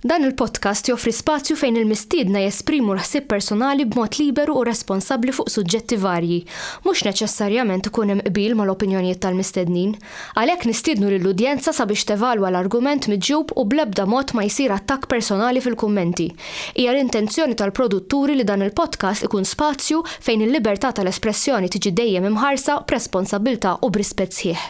Dan il-podcast joffri spazju fejn il-mistiedna jesprimu l-ħsieb personali b'mod liberu u responsabbli fuq suġġetti varji. Mhux neċessarjament ikun hemm qbil mal-opinjonijiet tal-mistednin. Għalhekk nistiednu lill-udjenza sabiex tevalwa l-argument miġjub u bl-ebda mod ma jsir attakk personali fil-kummenti. Hija l-intenzjoni tal-produtturi li dan il-podcast ikun spazju fejn il-libertà tal-espressjoni tiġi dejjem imħarsa b'responsabbiltà u b'rispett sħiħ.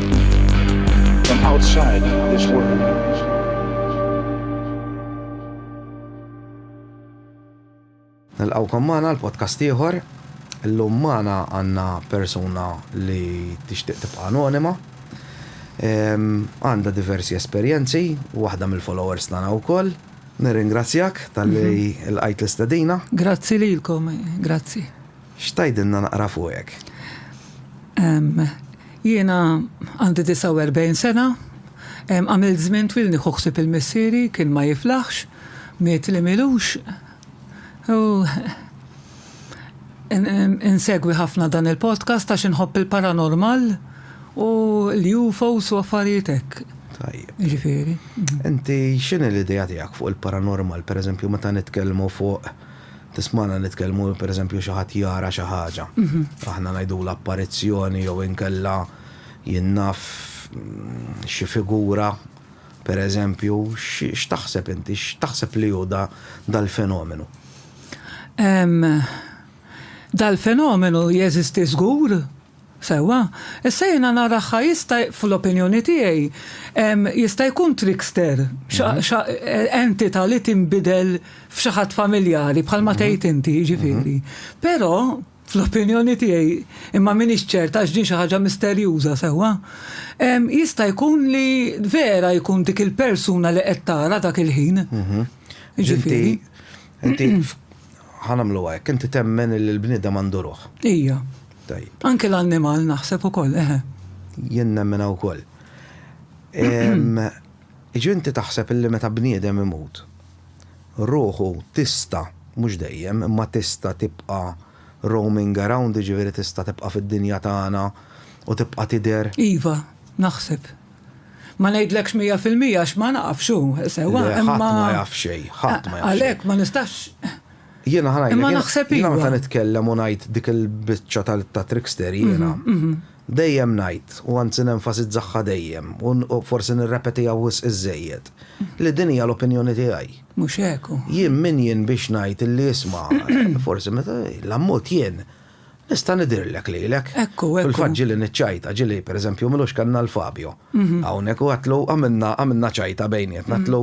from outside this world. Nilqawkom magħna l-podcast ieħor. Illum magħna għandna persuna li tixtieq tibqa' anonima. Għandha diversi esperjenzi, waħda mill-followers tagħna wkoll. Nirringrazzjak tal-li mhm. l-qajt l-istedina. Grazzi lilkom, grazzi. X'tgħidilna naqra fuqek? Jiena għandi 49 sena. Għamilt żmien twil nieħu ħsieb il-missieri, kien ma jiflaħx, miet li m'ilux. U insegwi ħafna dan il-podcast għax inħobb il-paranormal u l-UFOs u affarijiet hekk. Tajjeb. Jiġifieri. Inti x'inhi l-idea tiegħek fuq il-paranormal, pereżempju meta nitkellmu fuq Tismagħna nitkellmu, pereżempju xi ħadd jara xi ħaġa. Aħna ngħidulha apparizzjoni jew inkella jien naf xi figura, pereżempju, x'taħseb inti, x'taħseb li hu dal-fenomenu? Dal-fenomenu jeżisti żgur. Sewwa, issa jiena nara ħa jista' fl-opinjoni tiegħi jista' jkun trickster xa entità li tinbidel f'xi ħadd familjari bħalma tgħid inti jiġifieri. Però fl-opinjoni tiegħi, imma m'iniex ċert għax din xi ħaġa misterjuża sewwa, jista' jkun li vera jkun dik il-persuna li qed tara dak il-ħin. Jiġifieri. Inti, inti, ħa nagħmluha hekk, inti temmen li l-bniedem għandu ruħ. Ija. Tajjeb. Anke l-annimal naħseb ukoll, eħe. Jien nemminha wkoll. Jiġifieri inti taħseb illi meta bniedem imut, ruħu tista', mhux dejjem, imma tista' tibqa' roaming around, jiġifieri tista' tibqa' fid-dinja tagħna u tibqa' tidher? Iva, naħseb. Ma ngħidlekx mija fil-mija għax ma nafx hu sewwa imma. Le, ħadd ma jaf xejn, ħadd ma jaf xejn. Għalhekk ma nistax. Jiena ħa ngħidlek. Imma naħseb iva. Jiena meta nitkellem u ngħid dik il-biċċa ta' trickster jiena, dejjem ngħid, u anzi nenfasizzaha dejjem, u forsi nirrepetiha wisq iżżejjed, li din hija l-opinjoni tiegħi. Mhux hekk hu. Jien min jien biex ngħid illi isma' forsi meta l-ammut jien Nista' nidhirlek lilek. Ekku, ekku. Fil-fatt ġieli niċċajta, ġieli, per eżempju, Milux kellna l-Fabio hawnhekk u għedtlu għamilna għamilna ċajta bejnietna, għedtlu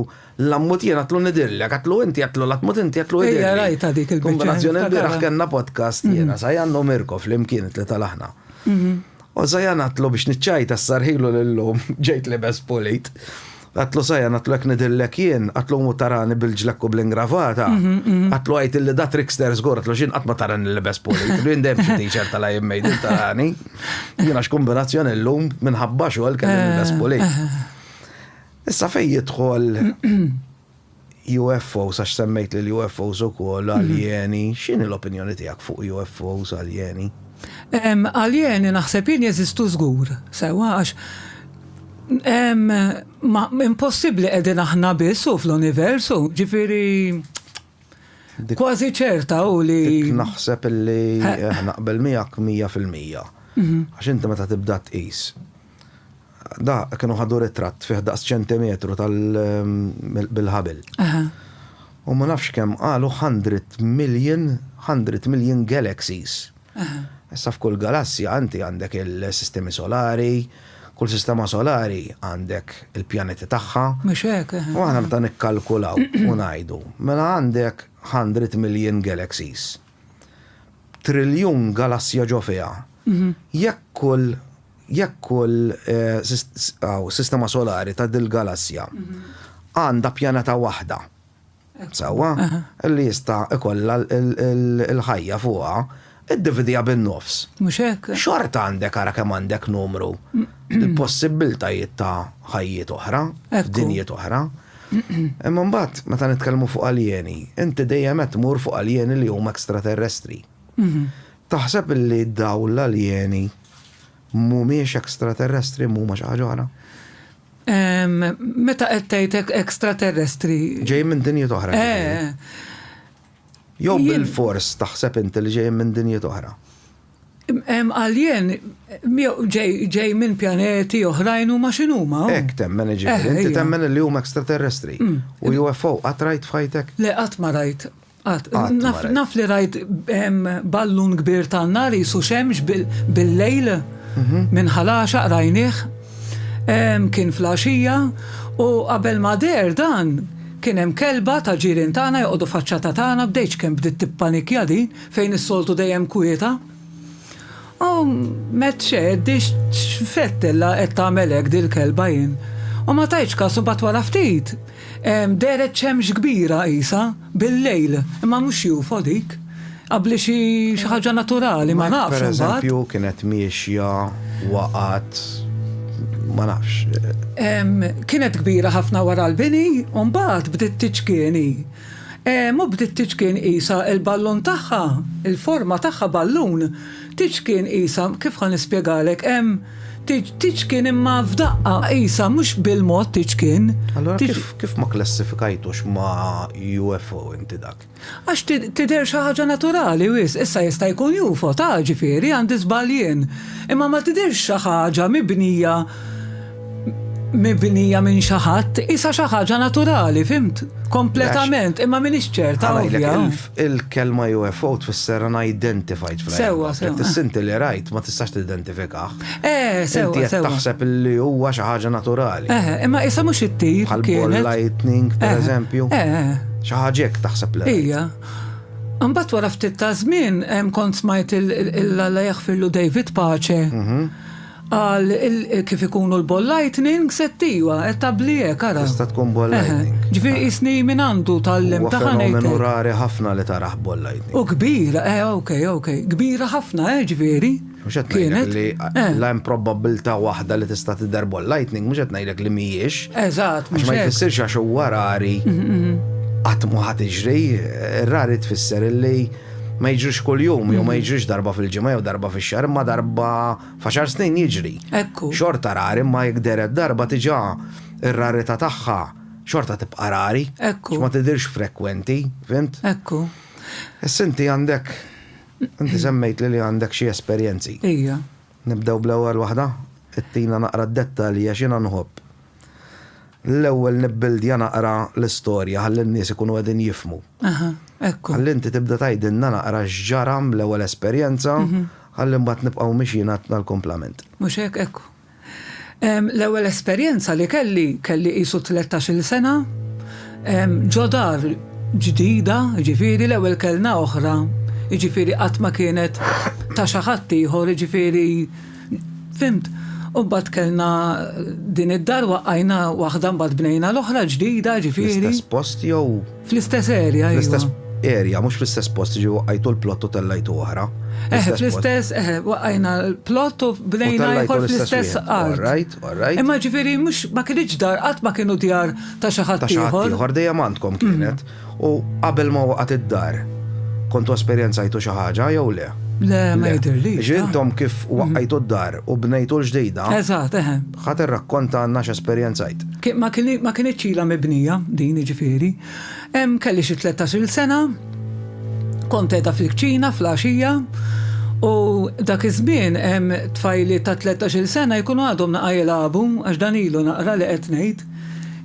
la mmut jien għedtlu nidhirlek, għedtlu inti, għedtlu la tmut inti, għedtlu idhirli. Ejja, rajtha dik il-biċċa. Kombinazzjoni l-bieraħ kellna podcast jiena, Zajan u Mirko flimkien it-tlieta l-aħna. U Zajan għedtlu biex niċċajta ssarħilu lil omm, ġejt libes pulit. Għatlu Sajan, għatlu jekk nidillek jien, għatlu mu tarani bil-ġlekk u bl-ingravata, għatlu għajt illi da trickster zgur, għatlu xin għatma tarani l-libes poli, għatlu jindem xie teacher tal jien made in tarani, jina x'kombinazzjoni l-lum minħabba xogħol kelli l-libes poli. Issa fej jidħol UFOs, għax semmejt li l-UFOs u koll mhm. aljeni, xini l-opinjoni tijak fuq UFOs aljeni? Aljeni naħseb jien jeżistu zgur, sewa għax ma impossibli edin aħna bissu fl-universu, ġifiri kważi ċerta u li. Naħseb li eh, naqbel miegħek mija fil-mija. Mhm. Għax inti meta tibda tqis Dak kienu ħadu ritratt fih daqs ċentimetru tal bil-ħabel. U ma nafx kemm qalu 100 million, 100 million galaxies. Issa f'kull galassja inti għandek il-sistemi solari, kull sistema solari għandek il-pjaneti tagħha. Mhux hekk. U aħna meta nikkalkulaw u ngħidu, mela għandek 100 million galaxies. triljun galassja ġo fiha. Mhm. Jekk kull jekk kull eh, sistema solari ta' dil-galassja mhm. għandha pjaneta waħda. Sawa, li jista' ikollha l-ħajja fuqha, id-dividija bin-nofs. Mhux hekk. Xorta għandek ara kemm għandek numru l-possibbiltajiet ta' ħajjiet oħra, dinjiet oħra. Imma mbagħad meta nitkellmu fuq aljeni, inti dejjem qed tmur fuq aljeni li huma ekstraterrestri. Taħseb li dawn l-aljeni mhumiex ekstraterrestri mhuma xi ħaġa oħra? Meta qed tgħid ekstraterrestri. Ġejjin minn dinjiet oħra. Eh. Jew bil-fors taħseb inti li ġejjin minn dinjiet oħra. Hemm alien ġej minn pjaneti oħrajn huma x'inhuma. Hekk temmen jiġifieri, inti temmen li huma extraterrestri. U UFO qatt rajt f'ħajtek? Le qatt ma rajt. Qatt. Naf li rajt ballun kbir tan-nar qisu xemx bil-lejl minn ħalaxaq rajnih. Kien fl-għaxija u qabel ma deher dan kien hemm kelba ta' ġirien tagħna joqogħdu faċċata tagħna bdejt x'kemm bdiet tippanikja din. Fejn is-soltu dejjem kwieta. O Matt x'għeddi x'fettella qed tagħmel hekk dil-kelba jien. U ma tajtx kas u mbagħad wara ftit dehret xemx kbira qisha bil-lejl, imma mhux UFO dik. Qabbli xi ħaġa naturali, ma nafx imbagħad. Matt pereżempju kienet miexja, waqgħet, ma nafx. Kienet kbira ħafna wara l-bini u mbagħad bdiet tiċkieni. Hemm u bdiet tiċkien qisha l-ballun tagħha, il-forma tagħha ballun, tiċkien qisha, kif ħa nispjegalek, hemm tiġ, tiċkien imma f'daqqa, qisha mhux bil-mod tiċkien. Allura kif, kif ma klassifikajtux ma' UFO inti dak? Għax tidher xi ħaġa naturali wisq, issa jista' jkun UFO ta' ġifieri għandi żball jien, imma ma tidhirx xi ħaġa mibnija mibnija minn xi ħadd isa xi ħaġa naturali, fimt? Kompletament, imma m'iniex ċerta. Il-kelma UFO tfisser unidentified fl Sewa, sewa. Tissinti li rajt ma tistax tidentifikah. Eh, sewa. Inti taħseb li huwa xi ħaġa naturali. Eh, imma isa mhux it-tip. Bħal lightning, per eh, eżempju. Eh, eh. Xi ħaġek taħseb li. Ija. Mbagħad wara ftit ta' żmien kont smajt il-Alla jaħfirlu David Pace. Mhm. Qal kif ikunu l-ball lightnings qed iwa qed tabbli hekk ara. Tista' tkun ball lightning. Ġifieri qisni min għandu tgħallimtha ħa ngħidlek. Huwa fenomenu rari ħafna li tarah ball lightning. U kbira eh ok ok kbira ħafna eh ġifieri. Mhux qed ngħidlek li la hemm probabbiltà waħda li tista' tidher ball lightning mhux qed ngħidlek li mhijiex. Eżatt mhux hekk. Għax ma jfissirx għax huwa rari qatt mhu ħa tiġri. Rari tfisser illi. ma jiġrix kuljum, jew ma mm. jiġrix darba fil-ġimgħa jew darba fix-xahar, ma darba faxar snin jiġri. Ekku. Xorta rari ma jikderet darba tiġa ir-rarità tagħha xorta tibqa' rari. Ekku. Ma tidirx frekwenti, fint? Ekku. Sinti għandek, inti semmejt li għandek xi esperjenzi. Ija. Nibdew bl-ewwel waħda, ittina naqra d-dettalji għax jiena nħobb l-ewwel nibbildja naqra l-istorja ħalli n-nies ikunu qegħdin jifhmu. Aha, ekku. Ħalli inti tibda tgħidilna naqra x'ġara bl-ewwel esperjenza ħalli mbagħad nibqgħu mixjin għad-l-kumplament. Mhux hekk, ekku. L-ewwel esperjenza li kelli, kelli qisu tlettax-il sena, ġo dar ġdida, jiġifieri l-ewwel kellna oħra, jiġifieri qatt ma kienet ta' xi ħadd ieħor, jiġifieri, fhimt? U mbagħad kellna din id-dar waqqajna waħda mbagħad bnejna l-oħra ġdida, jiġifieri. Fl-istess post jew? Fl-istess area, fl-istess area, mhux fl-istess post, ġi waqqajtu l-plott u tellajtu oħra. Eh, fl-istess, eh, waqqajna l-plott u bnejna jħor fl-istess art. Right, right. Imma ġifieri mhux ma kienx dar, qatt ma kienu djar ta' xi ħadd ieħor. Ieħor dejjem għandkom mm. kienet. U qabel ma waqgħet id-dar, kontu esperjenzajtu xi ħaġa jew le? Le, ma jidirli. Ġintom kif waqqajtu d-dar u bnejtu l-ġdejda. Eżatt, eħe. Eh. Ħa tirrakkonta għandna x'esperjenzajt. Ma kinitx ilha mibnija din, jiġifieri. Kelli xi tlettax-il sena, kont qiegħda fil-kċina fl-għaxija u dak iż-żmien tfajliet ta' tlettax-il sena jkunu għadhom naqa' jilagħbu għax dan ilu naqra li qed ngħid,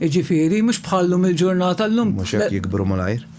jiġifieri mhux bħal-lum il-ġurnata llum. Mhux hekk jikbru malajr.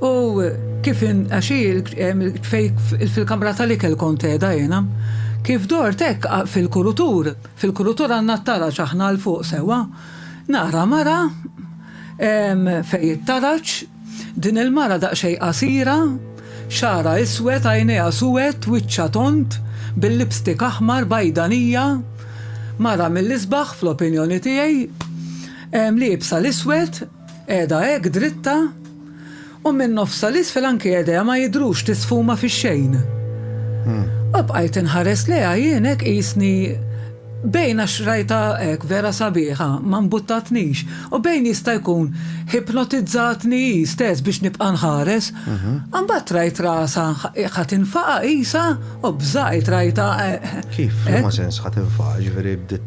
U kif in, għax hi l- em, il- fej fil-kamra tal-ikel kont qiegħda jiena. Kif dort hekk a- fil-kurutur, fil-kurutur għandna t-taraġ aħna 'l fuq sewwa, nara mara em, fej it-taraġ, din il-mara daqsxejn qasira, xagħarha iswed, għajnejha suwed, wiċċha tond, bil-lipstick aħmar, bajdanija, mara mill-isbaħ, fl-opinjoni tiegħi, em, liebsa l-iswed, Qiegħda hekk dritta, u minn nofsha 'l isfel anki idejha ma jidhrux li sfuma fix-xejn. U bqajt inħares lejha jien hekk qisni bejn għax rajtha hekk vera sabiħa, ma mbuttatnix, u bejn jista' jkun ħipnotizzatni hi stess biex nibqa' nħares. Imbagħad rajt rasha ħa tinfaqa' qisha u bżajt rajtha hekk. Kif? F'liema sens ħa tinfaqa', jiġifieri bdiet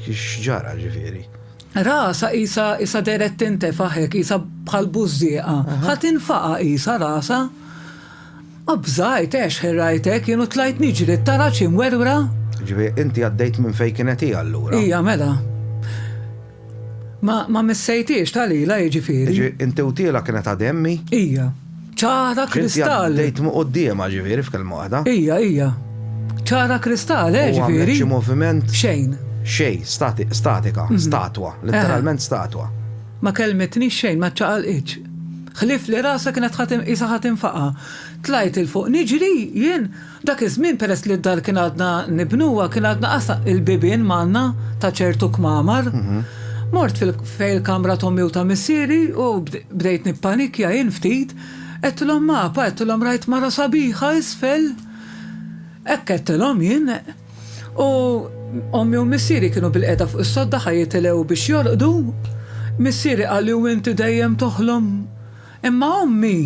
x'ġara jiġifieri? Rasha qisha qisha dehret tintefaħ hekk qisha bħal bużżieqa. Ħa tinfaqa' qisha rasha. Obżajt, għex ħerrajtek jien u tlajt niġri, t-taraġ imwerwra. Ġifieri inti għaddejt minn fejn kienet hi allura? Hija mela. Ma ma missejthiex ta' lilha jiġifieri. Jiġifieri inti u tielha kienet għad emmi? Hija. Ċara kristall. Dejt mu qoddiema ġifieri f'kelma waħda. Ija, ija. ċara kristall, eh ġifieri. Xi moviment. Xejn. Xejn, statika, mhm. statwa, letteralment statwa. Ma kelmetni xejn, ma ċaqalqitx. Ħlif li rasa kienet ħatim isa ħatim faqa. Tlajt il-fuq niġri jien Dak iż-żmien peress li d-dar kien għadna nibnuha kien għadna qas il-bibien manna ta' ċertu kmamar. Mort fejn il-kamra t'ommi u ta' missieri u bdejt nippanikja jien ftit. Għedtilhom Mapa, għedtilhom rajt mara sabiħa isfel. Hekk għedtilhom jien. U ommi u missieri kienu bilqiegħda fuq is-sodda ħa jitilgħu biex jorqdu. Missieri qalli u inti dejjem toħlom? Imma ommi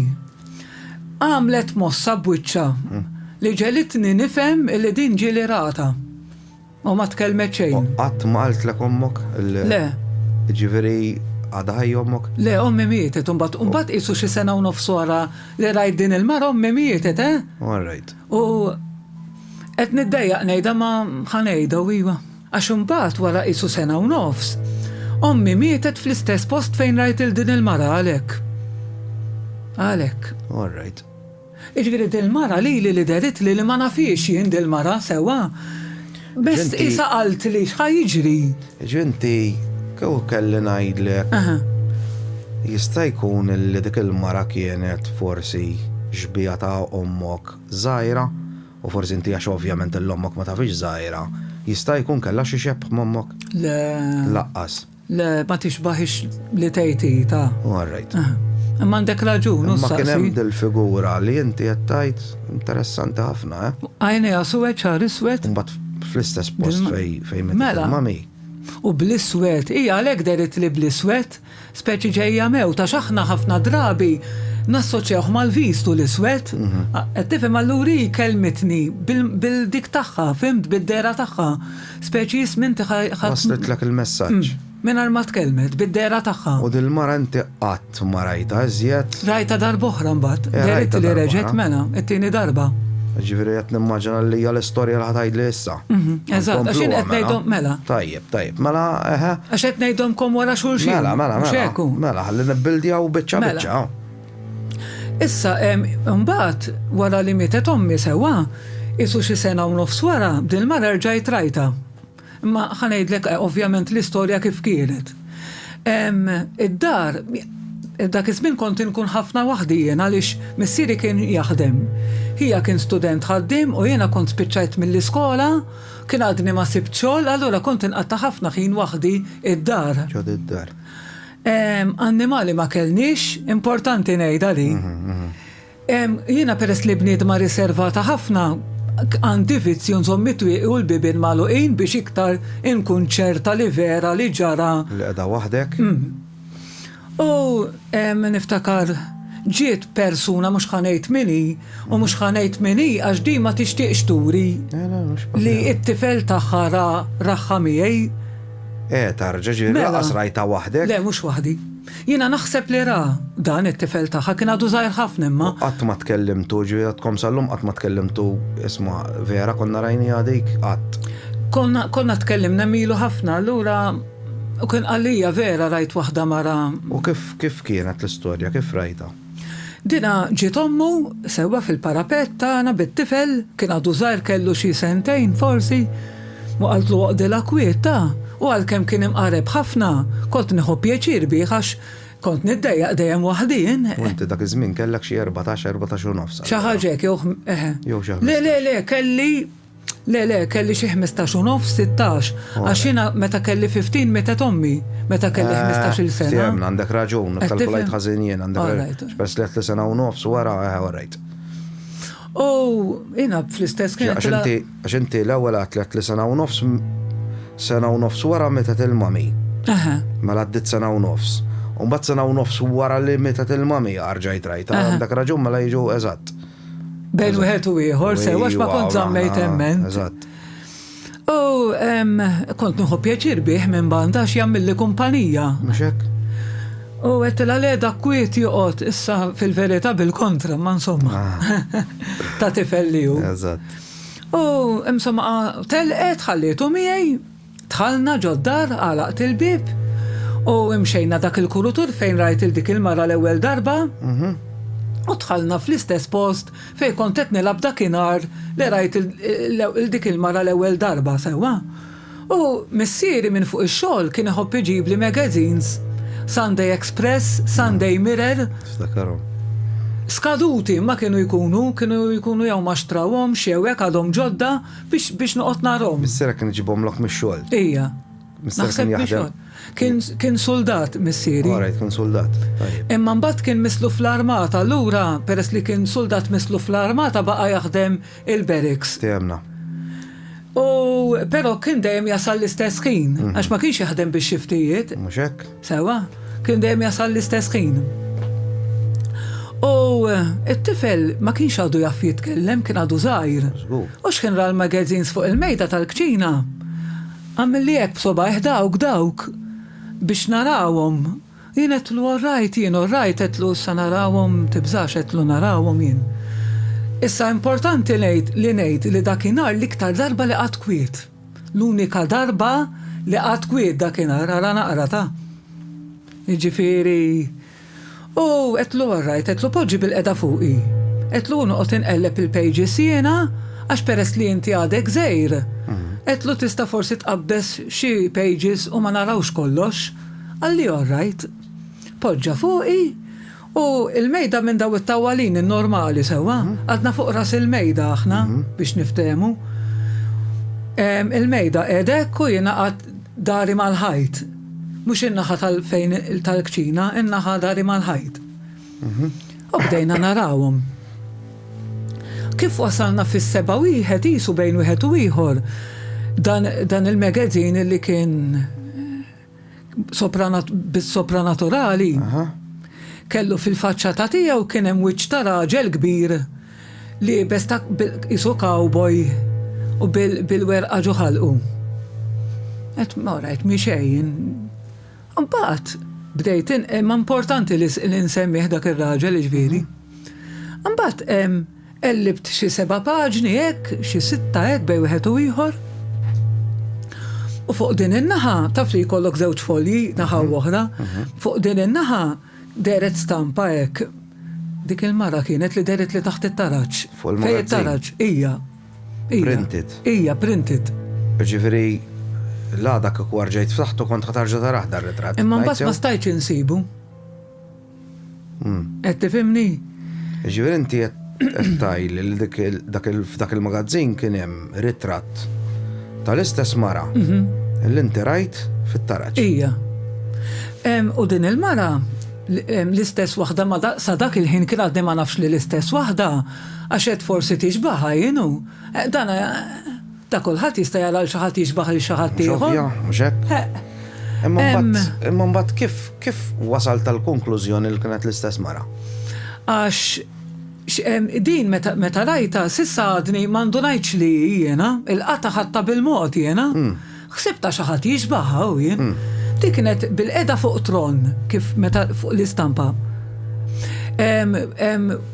għamlet mossa b'wiċċha li ġegħlitni nifhem li din ġieli rata. U ma tkellmet xejn. Qatt ma qaltlek ommok? Le. Jiġifieri għadha ħajja ommok? Le, ommi mietet, imbagħad imbagħad qisu xi sena u nofs wara li rajt din il-mara ommi mietet, eh? All right. U qed niddejjaq ngħidha ma ħa ngħidha u iva. Għax imbagħad wara qisu sena u nofs, ommi mietet fl-istess post fejn rajt lil din il-mara għalhekk. Għalhekk. All right. Jiġifieri dil-mara lili li deritli li ma nafhiex jien dil-mara sewwa. Biss qisha qaltli x'ħa jiġri. Jiġifieri inti kieku kelli ngħidlek jista' jkun li dik il-mara kienet forsi xbieha ta' ommok żgħira? U forsi inti għax ovvjament il-ommok ma tafhiex żgħira, jista' jkun kellha xi xebh m'ommok? Le. Laqqas. Le, ma tixbahiex li tgħid hi ta'. U all right. Imma għandek raġun, u s-saqsi. Ma kien hemm dil-figura li inti qed tgħid interessanti ħafna, eh? Għajnejha suwed, xahar iswed. Imbagħad fl-istess post fejn fejn mittilmami. U bl-iswed, hija għalhekk deritlli bl-iswed. Speċi ġejja mewt għax aħna ħafna drabi nassoċjawh mal-vistu l-iswed. Qed tifhem allura hi kelmitni bil-dik tagħha, fhimt, bid-dehra tagħha. Speċi jism inti ħadd. Waslitlek il-messaġġ. Mingħajr ma tkellmet, bid-dehra tagħha. U dil-mara inti qatt ma rajtha iżjed. Rajtha darb'oħra mbagħad. Dehritli li reġgħet mela, it-tieni darba. Ġifieri qed nimmaġina li hija l-istorja li ħa tgħidli issa. Eżatt, għax jien qed ngħidhom mela. Tajjeb. Tajjeb, mela, eħe. Għax qed ngħidhomkom wara xulxin. Mela, mela, mela. Mhux hekk. Mela, ħalli nibbildjaw biċċa Mela. biċċa. oh. Issa, em, mbagħad wara li mietet ommi sewwa, isu xi sena u nofs wara, din mara rġajt rajta. Imma ħa ngħidlek eh, ovvjament l-istorja kif kienet. Em, Id-dar, dak iż-żmien kont inkun ħafna waħdi jien għaliex missieri kien jaħdem. Ħija kien student ħaddiem u jiena kont spiċċajt mill-iskola Kien għadni ma sibt xogħol, allura kont inqatta' ħafna ħin waħdi id-dar. Ġod id-dar. Annimali ma kellniex, importanti ngħid għalik. Jiena peress li bniedma riservata ħafna, għandi vizzju nżomm it-twieqi u l-bibien magħluqin biex iktar inkun ċerta li vera li ġara. Li qiegħda waħdek. U niftakar ġiet persuna mhux ħa ngħid min hi u mhux ħa ngħid min hi għax din ma tixtieqx turi li t-tifel tagħha ra raħħa miegħi. Eh, tarġa, ġifieri mela. lanqas rajtha waħdek? Le, mhux waħdi. Jiena naħseb li ra dan it-tifel tagħha, kien għadu żgħir ħafna imma. U qatt ma tkellimtu, ġifieri għadkom sal-lum qatt ma tkellimtu isma' vera konna rajniha dik qatt. Konna tkellimna milu ħafna, allura. U kien qalija vera rajt waħda mara. U kif kif kienet l-istorja, kif rajtha? Dinha ġiet ommu sewwa fil-parapett tagħna bit-tifel, kien għadu żgħir kellu xi sentejn forsi, u qaltlu oqdilha kwiet ta, u għalkemm kien imqareb ħafna, kont nieħu pjaċir bih għax kont niddejjaq dejjem waħdi jien. U inti dak iż-żmien kellek xi erbatax, erbatax u nofs allura. Xi ħaġa hekk jew eħe. Jew xi ħmistax. Le le le kelli. Le, le, kelli xi ħmistax u nofs, sittax. Għax jiena meta kelli 15 mietet ommi, meta kelli eh, ħmistax-il sena. Fehmna, għandek raġun, eh, kalkulajt ħażin jien, għandek raġun. Bess li għatli sena u nofs wara, eh, għarajt. U jiena fl-istess kien. Għax inti l-ewwel għatlet li sena u nofs sena u nofs wara meta il-mami. Mela għaddit sena u nofs. Umbat sena u nofs wara li meta il-mami għarġajt rajta. Għandek raġun mela jiġu eżatt. Bejn wieħed u ieħor, se għax ma kont żammejt hemmen. U kont nħu pjaċir bih minn banda għax jagħmilli kumpanija. Mhux U għet la le da kwiet joqot, issa fil-verita bil-kontra, ma insomma. Ah. Ta' tifel li ju. U insomma, telqet ħallitu miegħi Dħalna ġod-dar, għalaqt il-bieb u imxejna dak il-kurutur fejn rajt il dik il-mara l-ewwel darba u dħalna fl-istess post fejn kont qed nilgħab dakinhar li rajt il dik il-mara l-ewwel darba, sewwa? U missieri minn fuq ix-xogħol kien iħobb iġibli magazines, Sunday Express, Sunday Mirror. Niftakarhom. Skaduti imma kienu jkunu, kienu jkunu jew ma xtrawhomx jew hekk għadhom ġodda, Biex, biex noqgħod narhom. Missierek kien iġibhomlok mix-xogħol. Ija. Missierek kien jaħdem. Kien, kien soldat missieri. Alright, kien soldat. Imma mbagħad kien mislu fl-armata, allura peress li kien soldat mislu fl-armata baqa' jaħdem il-barracks. Tejjemna. U però kien dejjem jasal l-istess ħin, mhm. għax ma kienx jaħdem bix-xiftijiet. Mhux hekk. Sewwa, kien dejjem jasal l-istess ħin. U t-tifel ma kienx għadu jaf jitkellem, kien għadu żgħir. U x'kien ra l-magazines fuq il-mejda tal-kċina. Għamilli hekk b'sobgħajh dawk, dawk, biex narawhom. Jien għedtlu all right, jien all right, għedtlu issa narawhom, tibżax, għedtlu narawhom jien. Issa importanti ngħid li ngħid li dakinhar l-iktar darba li qgħadt kwiet. L-unika darba li qatt kwiet dakinhar, ara naqra ta. Jiġifieri. U għedtlu orrajt, għedtlu poġġi bilqiegħda fuqi. Għedtlu u noqgħod inqelleb il-pages jiena għax peress li inti għadek żgħir, għedtlu tista' forsi tqabbeż xi pages u ma narawx kollox. Qalli orrajt. Poġġa fuqi U l-mejda minn dawn it-tawwalini normali, sewwa? Għadna fuq ras il-mejda aħna, biex niftehmu. Il-mejda qiegħda hekk u jiena qgħadt dari mal-ħajt. Mhux in-naħa tal-fejn tal-kċina, in-naħa dari mal-ħajt. U bdejna narawhom. Kif wasalna fis-sebgħa wieħed qisu bejn wieħed u ieħor dan il-magazine li kien bis-sopranaturali, kellu fil-faċċata tiegħu kien hemm wiċċ ta' raġel kbir li jibes ta' isu cowboy u bil-werqa ġo ħalqu. Et mora, et miexejn. Mbagħad bdejt imma importanti li nsemmih dak ir-raġel ġviri. Mbagħad Qellibt xi seba' paġni hekk, xi sitta hekk bejn wieħed u ieħor. U fuq din in-naħa, taf li jkollok żewġ folji, naħa u oħra, fuq din in-naħa dehret stampa hekk. Dik il-mara kienet li dehret li taħt it-taraġ. Fuq il-magazzin. Fejn it-taraġ, hija. Printed. Hija, printed. Ġifieri, l-għada kieku arġajt ftaħtu kont ħa tarġa' tarah dar-ritratt. Imma mbagħad ma stajtx insibu. Qed tifhimni? Ġifieri inti qed tgħidli li dik il- dak il- f'dak il-magazzin kien hemm ritratt tal-istess mara li inti rajt fit-taraġ. Ija. Em, U din il-mara, l- em, l-istess waħda ma da- sa dak il-ħin kien għadni ma nafx li l-istess waħda, għax għedt forsi tixbaħha, you know. Eh, Dan eh, Ta' kulħadd jista' jara 'l xi ħadd jixbah lil xi ħadd ieħor. Mhux ovvja, mhux hekk? Imma mbagħad, imma mbagħad kif, kif wasalt għall-konklużjoni li kienet l-istess mara? Għax din meta, meta rajta, s'issa għadni ma ndunajtx li hi jiena, il-qata ħadta bil-mod jiena. Hmm. Ħsibta xi ħadd jixbahha u jien. Hmm. Dik kienet bil-qeda fuq tron kif meta fuq l-istampa.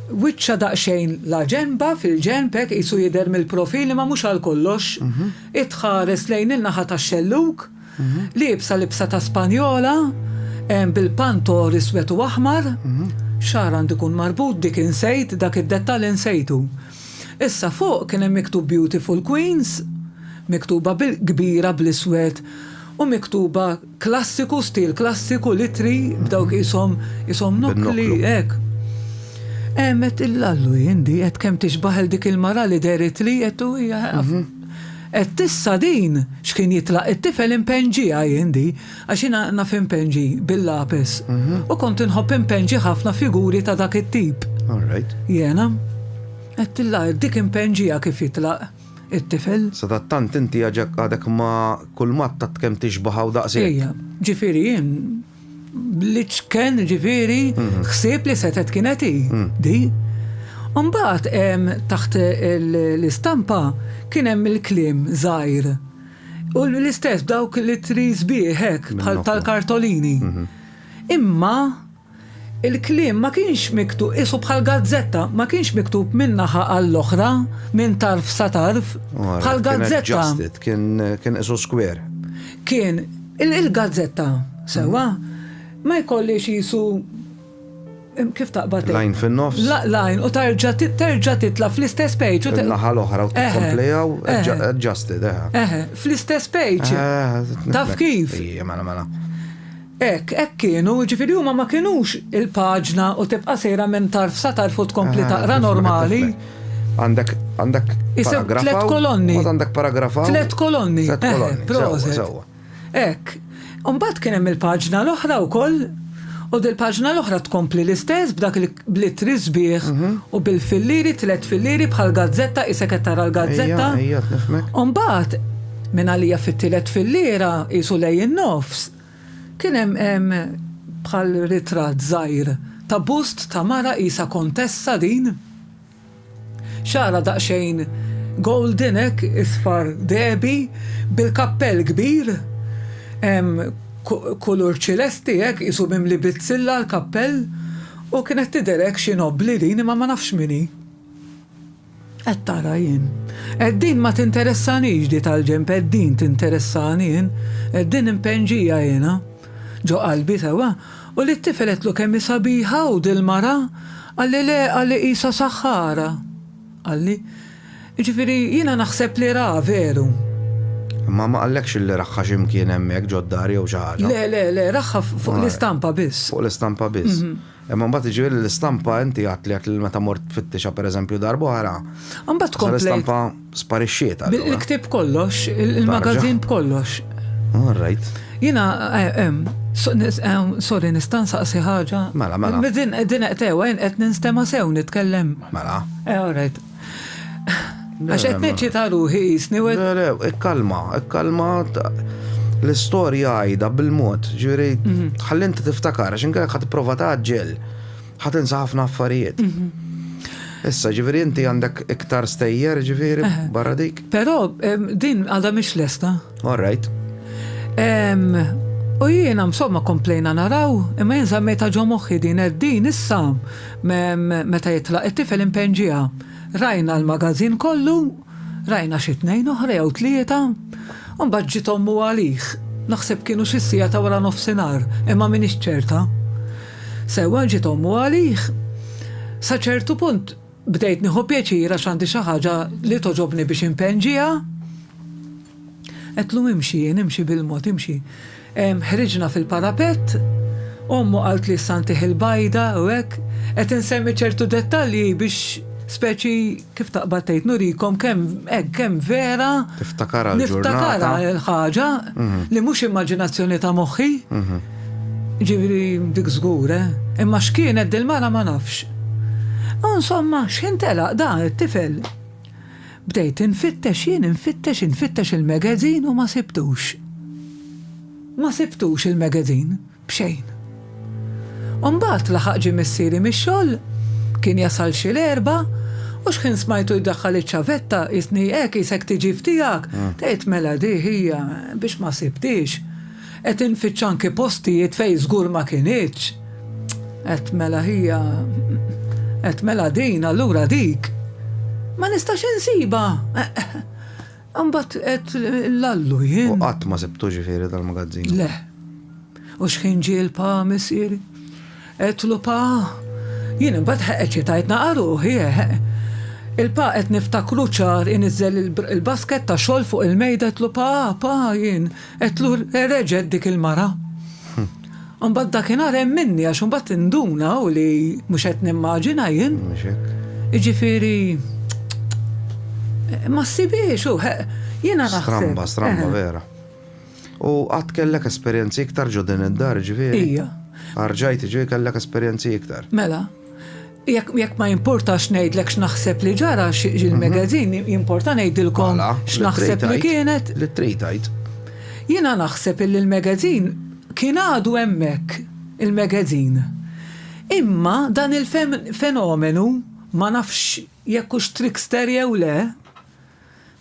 Wiċċha daqsxejn laġenba, fil-ġenb hekk, qisu jidher mill-profil imma mhux għal kollox. Hi tħares lejn in-naħa tax-xellug, liebsa libsa ta' Spanjola, bil-pantor iswed u aħmar. X'xagħar għandu jkun marbut dik insejt, dak id-dettall insejtu. Issa fuq kien hemm miktub Beautiful Queens, miktuba bil-kbira bl-iswed u miktuba Klassiku, stil klassiku, l-ittri bdew qishom qishom nokkli, hekk. Għemet il-lallu jien di, għedt kemm tixbah il dik il-mara li dehret li, għedt u hija għaf. Għedt issa din x'kien jitlaq it-tifel impenġiha jien di, għax jiena naf impenġi bil-lapes u kont inħobb impenġi ħafna figuri ta' dak it-tip. Jiena. Għedtilha dik impenġiha kif jitlaq. it-tifel. Sadattant inti għadek ma kulmat tat kemm tixbaħa u daqshekk. Ejja, ġifieri jien bl-iċken ġifieri mhm. ħsieb li setet kienet hi mhm. di. Umbat taħt l-istampa kien hemm il-klim żgħir. U l-istess dawk li tris bieħek bħal tal-kartolini. Mhm. Imma Il-kliem ma kienx miktu, qisu bħal gazzetta, ma kienx miktub minn naħa għall-oħra, minn tarf sa tarf, bħal gazzetta. Kien qisu skwer. Kien, il-gazzetta, sewwa, ma jkollhiex qisu kif taqbad. Lajn fin-nofs. Lajn u terġa' terġa' titla' fl-istess page. Naħa l-oħra u tikkomplejaw adjusted. Fl-istess page. Taf kif? Mela, mela. Hekk, hekk kienu, jiġifieri huma ma kinux il-paġna u tibqa' sejra minn tarf sa tarf u tkompli taqra normali. Għandek, għandek. Isem tliet kolonni. Mbagħad għandek paragrafa. Tliet kolonni. Tliet kolonni. Proset. Hekk. Mbagħad kien hemm il-paġna l-oħra wkoll u dil-paġna l-oħra tkompli l-istess b'dak l-ittri sbieħ mhm. u bil-filliri, tliet filliri bħal gazzetta isek qed tara l-gazzetta. Mbagħad minn għalija fit-tielet fillira isu lej in-nofs Kien hemm hemm bħal ritratt żgħir ta' bust ta' mara qisha kontessa din. Xagħarha daqsxejn golden hekk isfar dehbi bil-kappell kbir hemm kulur ċilesti hekk qisu mimli bizzilla l-kappell u kienet tidher hekk xi nobbli din imma ma nafx min hi. Qed tara jien. Qed din ma tinteressanix di tal-ġenb qed din tinteressani jien. Qed din impenġija jiena. Ġo qalbi sewwa. U lit-tifel għedtlu kemm hi sabiħa u dil-mara? Qalli le qalli qisha saħħara. Qalli. Jiġifieri jiena naħseb li ra veru. Imma ma qallekx illi raħħa xi mkien hemmhekk ġod-dar jew xi ħaġa? Le le le raħħa fuq l-istampa biss. Fuq l-istampa biss. Imma mbagħad jiġifieri l-istampa inti għad li għad li meta mort tfittixha pereżempju darb'oħra. Imbagħad tkompli. L-istampa sparixxiet għal. Il-ktieb kollox, il-magażin b'kollox. All right. Jiena eh, eh, sorry nista' nsaqsi ħaġa. Mela, mela. Din qed tewa qed ninstema' sew nitkellem. Mela. Eh, all right. Għax qed neċċita ruħi jisni u Ikkalma, ikkalma l-istorja għajda bil-mod, ġifieri mhm. ħalli inti tiftakar għax inkellek ħadd prova taġġel, ħadd insa ħafna affarijiet. Mhm. Issa ġifieri inti għandek iktar stejjer ġifieri barra dik. Però din għadha mhix lesta. All right. U jiena msomma komplejna naraw, imma jien żammejta ġo moħħi din din issa meta jitlaq it-tifel impenġiha. Rajna l-magażin kollu, rajna xi tnejn oħra jew tlieta, u mbagħad ġiet ommu għalih. Naħseb kienu xi siegħa ta' wara nofsinhar, imma m'iniex ċerta. Sewwa ġiet ommu għalih, sa ċertu punt, Bdejt nieħu pjaċir għax għandi xi ħaġa li togħġobni biex inpenġiha. Għedtlu imxi jien, imxi bil-mod, imxi. Ħriġna fil-parapett, ommu qaltli issa ntih il-bajda u hekk, qed insemmi ċertu dettalji biex speċi kif taqbad tgħid nurikom kemm hekk kemm vera Tiftakara l-ġurnata. niftakara l-ħaġa li mhux immaġinazzjoni ta' moħħi. Jiġifieri dik żgur, eh? Imma x'kienet dil-mara ma nafx. U insomma, x'ħin telaq da, it-tifel? Bdejt infittex jien, infittex, infittex il-magazine u ma sibtux. Ma sibtux il-magazine, b'xejn. U mbagħad laħaq ġie missieri mix-xogħol, kien jasal xi l-erbgħa, u x'ħin smajtu jdaħħal iċ-ċavetta, qisni hekk, qisek tiġi f'tiegħek, tgħid mela di hija, biex ma sibtiex. Qed infittx anki postijiet fejn żgur ma kinitx. Qed mela hija qed mela din allura dik. Ma nistax insibha! Imbagħad qed l-allu jien. U qatt ma sibtu ġifieri dal-magazzinu? Le. U x'ħin ġie l-pa missieri? Għedtlu Pa, jien imbagħad heq eċitajt naqa' ruħi heq. Il-Pa qed niftakru ċar iniżżel il-basket ta' xogħol fuq il-mejda għedtlu Pa, Pa, jien, għedtlu reġgħet dik il-mara. Imbagħad dakinhar hemminni għax imbagħad induna u li mhux qed nimmaġina jien. Jiġifieri ma ssibhiex u heq jiena naħseb. Stramba, stramba vera. U qatt kellek esperjenzi iktar ġo din id-dar, ġifieri? Ija. Arġajt, ġifieri kellek esperjenzi iktar. Mela, jekk ma jimportax ngħidlek x'naħseb li ġara il-magazin, mhm. jimporta ngħidilkom mela, x'naħseb li kienet. Li trid Jiena naħseb illi l-magazin kien għadu hemmhekk il-magazin. Imma dan il-fenomenu ma nafx jekk hux trickster jew le,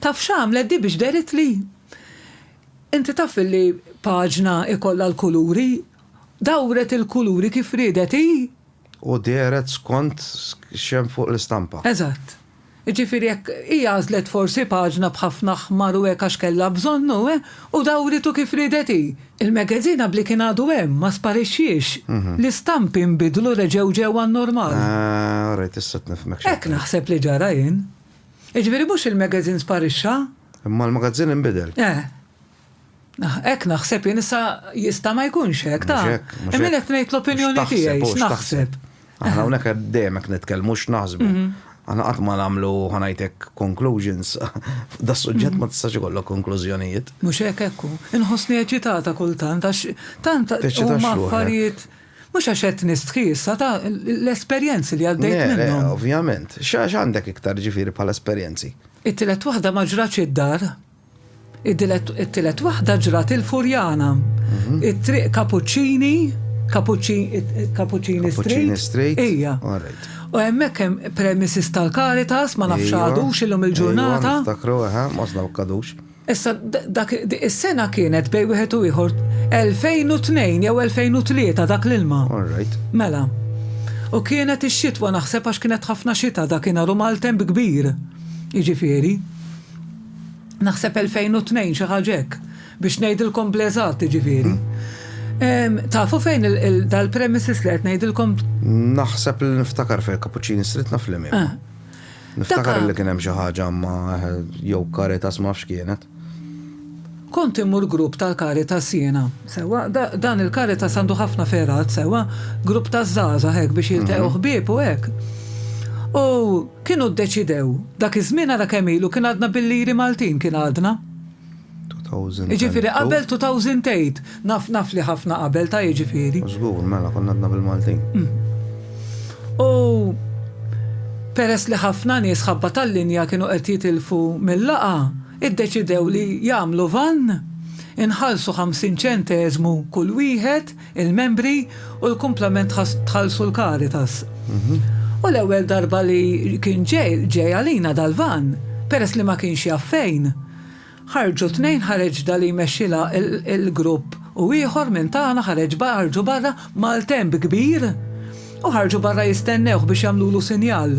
taf x'għamlet di biex derit li Inti taf li paġna ikollha l-kuluri? Dawret il-kuluri kif riedet hi! U dehret skont x'hemm fuq l-istampa. Eżatt. Jiġifieri hekk, hi għażlet forsi paġna b'ħafna aħmar u hekk għax kellha bżonn u, eh, u dawritu kif riedet hi. Il-magazine għabli kien għadu hemm, ma sparixxiex. L-istampi nbidlu reġgħu ġew għan-normal. Ah, orajt, issa qed nifhmek x'qed tgħid. Hekk naħseb li ġara jien. Jiġifieri mhux il-magazine sparixxa. Imma l-magazzin inbidel. Eh. Hekk naħseb jien issa jista' ma jkunx hekk, ta. Imma qed ngħid l-opinjoni tiegħi x'naħseb. Aħna hawnhekk dejjem hekk nitkellmu x'naħsbu. Aħna qatt ma nagħmlu ħanajtek conclusions. Da suġġett ma tistax ikollok konklużjonijiet. Mhux hekk hekk hu. Inħossni eċitata kultant għax tant huma affarijiet Mhux għax qed nistħi issa ta' l-esperjenzi li għaddejt minnhom. Ovvjament. X'għax għandek iktar ġifieri bħala esperjenzi? It-tielet waħda ma ġratx id-dar. It-tielet waħda ġrat il-Furjana. It-triq Kapuċċini, Kapuċċini Street. Ija. U hemmhekk hemm premises tal-Caritas, ma nafx għadux illum il-ġurnata. Niftakru, aha, mosna u kadux. Issa, dak, is-sena kienet bejn wieħed u ieħor 2002 jew 2003 dak l-ilma. All right. Mela. U kienet ix-xitwa naħseb għax kienet ħafna xita dakinhar u maltemp kbir. Jiġifieri. Naħseb 2002 xi ħaġa hekk biex ngħidilkom bl-eżatt jiġifieri. Hmm. Tafu fejn dal-premises li qed ngħidilkom? Naħseb li niftakar fejn Cappuccini Street naf li eh. Niftakar li kien hemm xi ħaġa ma' jew Caritas ma nafx kienet. Kont immur grupp tal-Caritas jiena, sewwa, dan il-Caritas għandu ħafna fergħat, sewwa, grupp taż-żgħażagħ hekk biex jiltaqgħu ħbieb u hekk. U kienu ddeċidew, dak iż-żmien ara kemm ilu, kien għadna bil-liri Maltin, kien għadna. 2000. Jiġifieri qabel 2008. Naf, naf li ħafna qabel ta' jiġifieri. Żgur, mela konna għadna bil-Maltin. U peress li ħafna nies ħabba tal-linja kienu qed jitilfu mil-laqgħa, iddeċidew li jagħmlu vann, inħallsu ħamsin ċenteżmu kull wieħed, il-membri u l-kumplament tħallsu l-Caritas. U l-ewwel darba li kien ġej, ġej għalina dal-vann, peress li ma kienx jaf fejn. Ħarġu tnejn ħareġ da li jmexxilha l-grupp u ieħor minn tagħna ħareġ ħarġu barra maltemp kbir u ħarġu barra jistennewh biex jagħmlulu sinjal.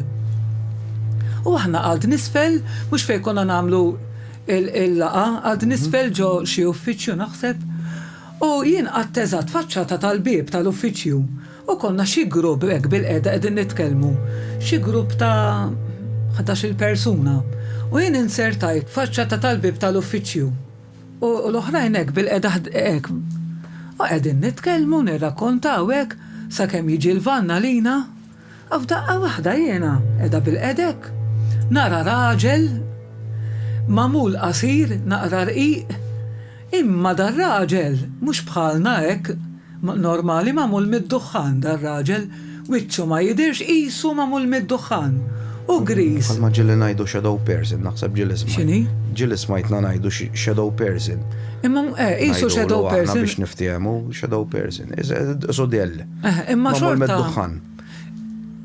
U aħna għad nisfel mhux fejn konna nagħmlu l-laqgħa, għad nisfel ġo xi uffiċċju naħseb, U jien qgħadt eżatt faċċata tal-bieb tal-uffiċċju u konna xi grupp hekk bilqiegħda qegħdin nitkellmu, xi grupp ta' ħdax-il persuna. U jien inzertajt faċċata tal-bieb tal-uffiċċju u l-oħrajn hekk bilqiegħda hekk. U qegħdin nitkellmu, nirrakkontaw hekk, sakemm jiġi l-vann għalina. A F'daqqa waħda jiena, qiegħda bilqedek, nara raġel magħmul qasir, naqra rqiq, imma dar-raġel mhux bħalna hekk normali magħmul mid-duħħan dar-raġel, wiċċu ma jidhirx qisu magħmul mid-duħħan u griż. Bħalma ġieli ngħidu shadow person, naħseb ġieli smajt. X'inhi? Ġieli smajtna ngħidu shadow person. Imma eh, qisu shadow person. Ngħidu aħna biex niftiehmu shadow person. Isu dell. Eh, imma xorta. dukħan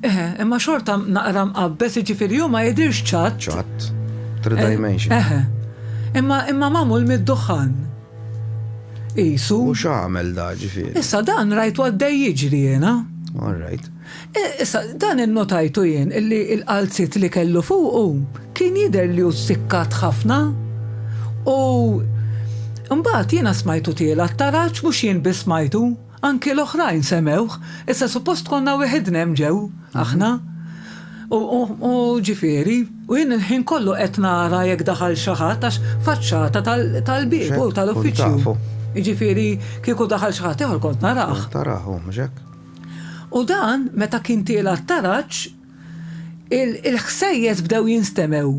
Eh, imma xorta naqra mqabbes, jiġifieri hu ma jidhirx ċatt. Ċatt. Three eh, dimension. Eh, eh, imma imma magħmul mid-duħħan. Isu. U x'għamel da ġifieri. Issa dan rajtu għaddej jiġri jiena. All right. Eh, issa, dan innotajtu jien illi il-qalzit li kellu fuqu kien jider li u sikkat ħafna u mbagħad jiena smajtu tiela t-taraġ mhux jien biss smajtu. Anki l-oħrajn semewh, issa suppost konna weħidna hemm ġew, aħna. U, u, u, ġifieri, u jien il-ħin kollu qed nara jekk daħal xi ħadd għax faċċata tal, tal-bieb u tal-uffiċċju. Kont tafu. Jiġifieri kieku daħal xi ħadd ieħor kont narah. Kont tarah, hu mhux hekk? U dan, meta kien tiela' t-taraġ, Il-ħsejjes bdew jinstemgħu.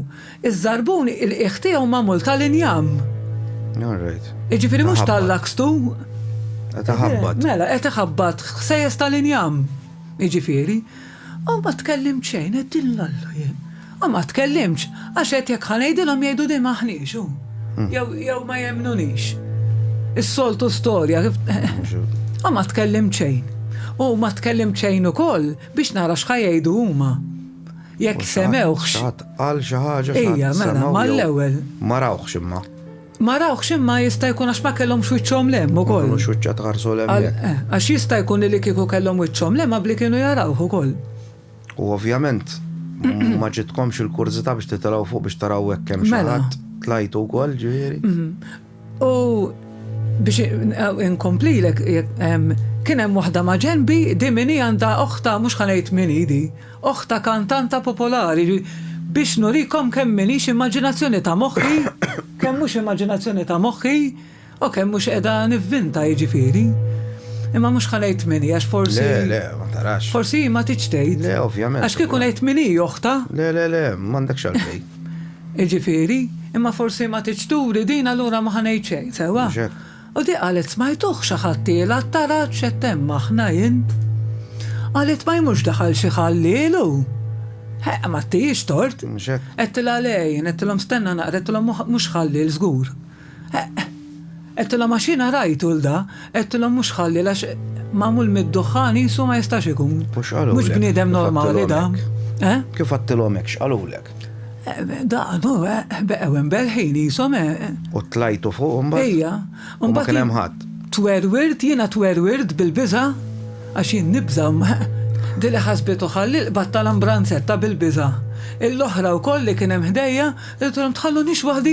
Iż-żarbun il-qiegħ tiegħu magħmul tal-injam. All right. Jiġifieri mhux tal-lakstu. Qed iħabbat. Mela, qed iħabbat ħsejjes tal-injam. Jiġifieri. U ma tkellimt xejn, qed dillallu jien. U ma tkellimx, għax qed jekk ħanejdilhom jgħidu din maħniex hu. Hmm. Jew ma jemnunix. Is-soltu storja. U ma tkellimt xejn. U ma tkellimt xejn ukoll Biex nara x'ħa jgħidu huma. Jekk semewhx. Xi ħadd qal xi ħaġa xi ħadd semgħu. Ejja, mela, mal-ewwel. Ma rawhx imma. Ma rawhx imma jista' jkun għax ma kellhom xwiċċhom lem ukoll. Kellu xwiċċa tħarsu lem. Eh, għax jista' jkun li kieku kellhom wiċċhom lem qabli kienu jarawh ukoll. U ovvjament ma ġitkomx il-kurżità biex titilgħu fuq biex taraw hekk hemm xi mela. tlajtu wkoll ġifieri. Mhm. U biex inkomplilek, kien hemm waħda ma' ġenbi, di min hi għandha oħta mhux ħanejt min hi di, oħta kantanta popolari, biex nurikom kemm m'iniex immaġinazzjoni ta' moħħi, kemm mhux immaġinazzjoni ta' moħħi, u kemm mhux qiegħda nivvinta jiġifieri. Imma mhux ħanejt min hi għax forsi. Le, le, ma tarax. Forsi hi ma tridx tgħid. Le, ovvjament. Għax kieku ngħid min hi oħta. Le, le, le, m'għandekx għalfejn. Jiġifieri, imma forsi ma tridx turi din allura ma ħa ngħid xejn, sewwa? Mhux hekk? U di qalet smajtuh xi ħadtielha t-taraġ x'qed hemm aħna jien. Qalet ma hi mhux daħal xi ħalliel hu. Heq, m'għattihiex tort. Mhux hekk? Għedtilha le jien, għedtilhom stenna naqra, għedtilhom mhux ħalliel żgur. Eqq! Għedtilhom għax jiena rajt Ulda, għedtilhom mhux ħalliel għax magħmul mid-duħħan qisu ma jistax ikun. U x'qalulek? Mhux bniedem normali da. Eh? Kif għedtilhom hekk x'qalulek? Daqdu, beqgħu imberħin qishom eh. U tlajtu fuq imbagħad? Ejja. U ma kien hemm ħadd. Twerwirt, jiena twerwirt bil-biża' għax jien nibża' Din li ħasbitu ħalliel qbadtha għal ambranzetta bil-biża'. Il-oħra wkoll li kien hemm ħdejja, għedtilhom tħallunix waħdi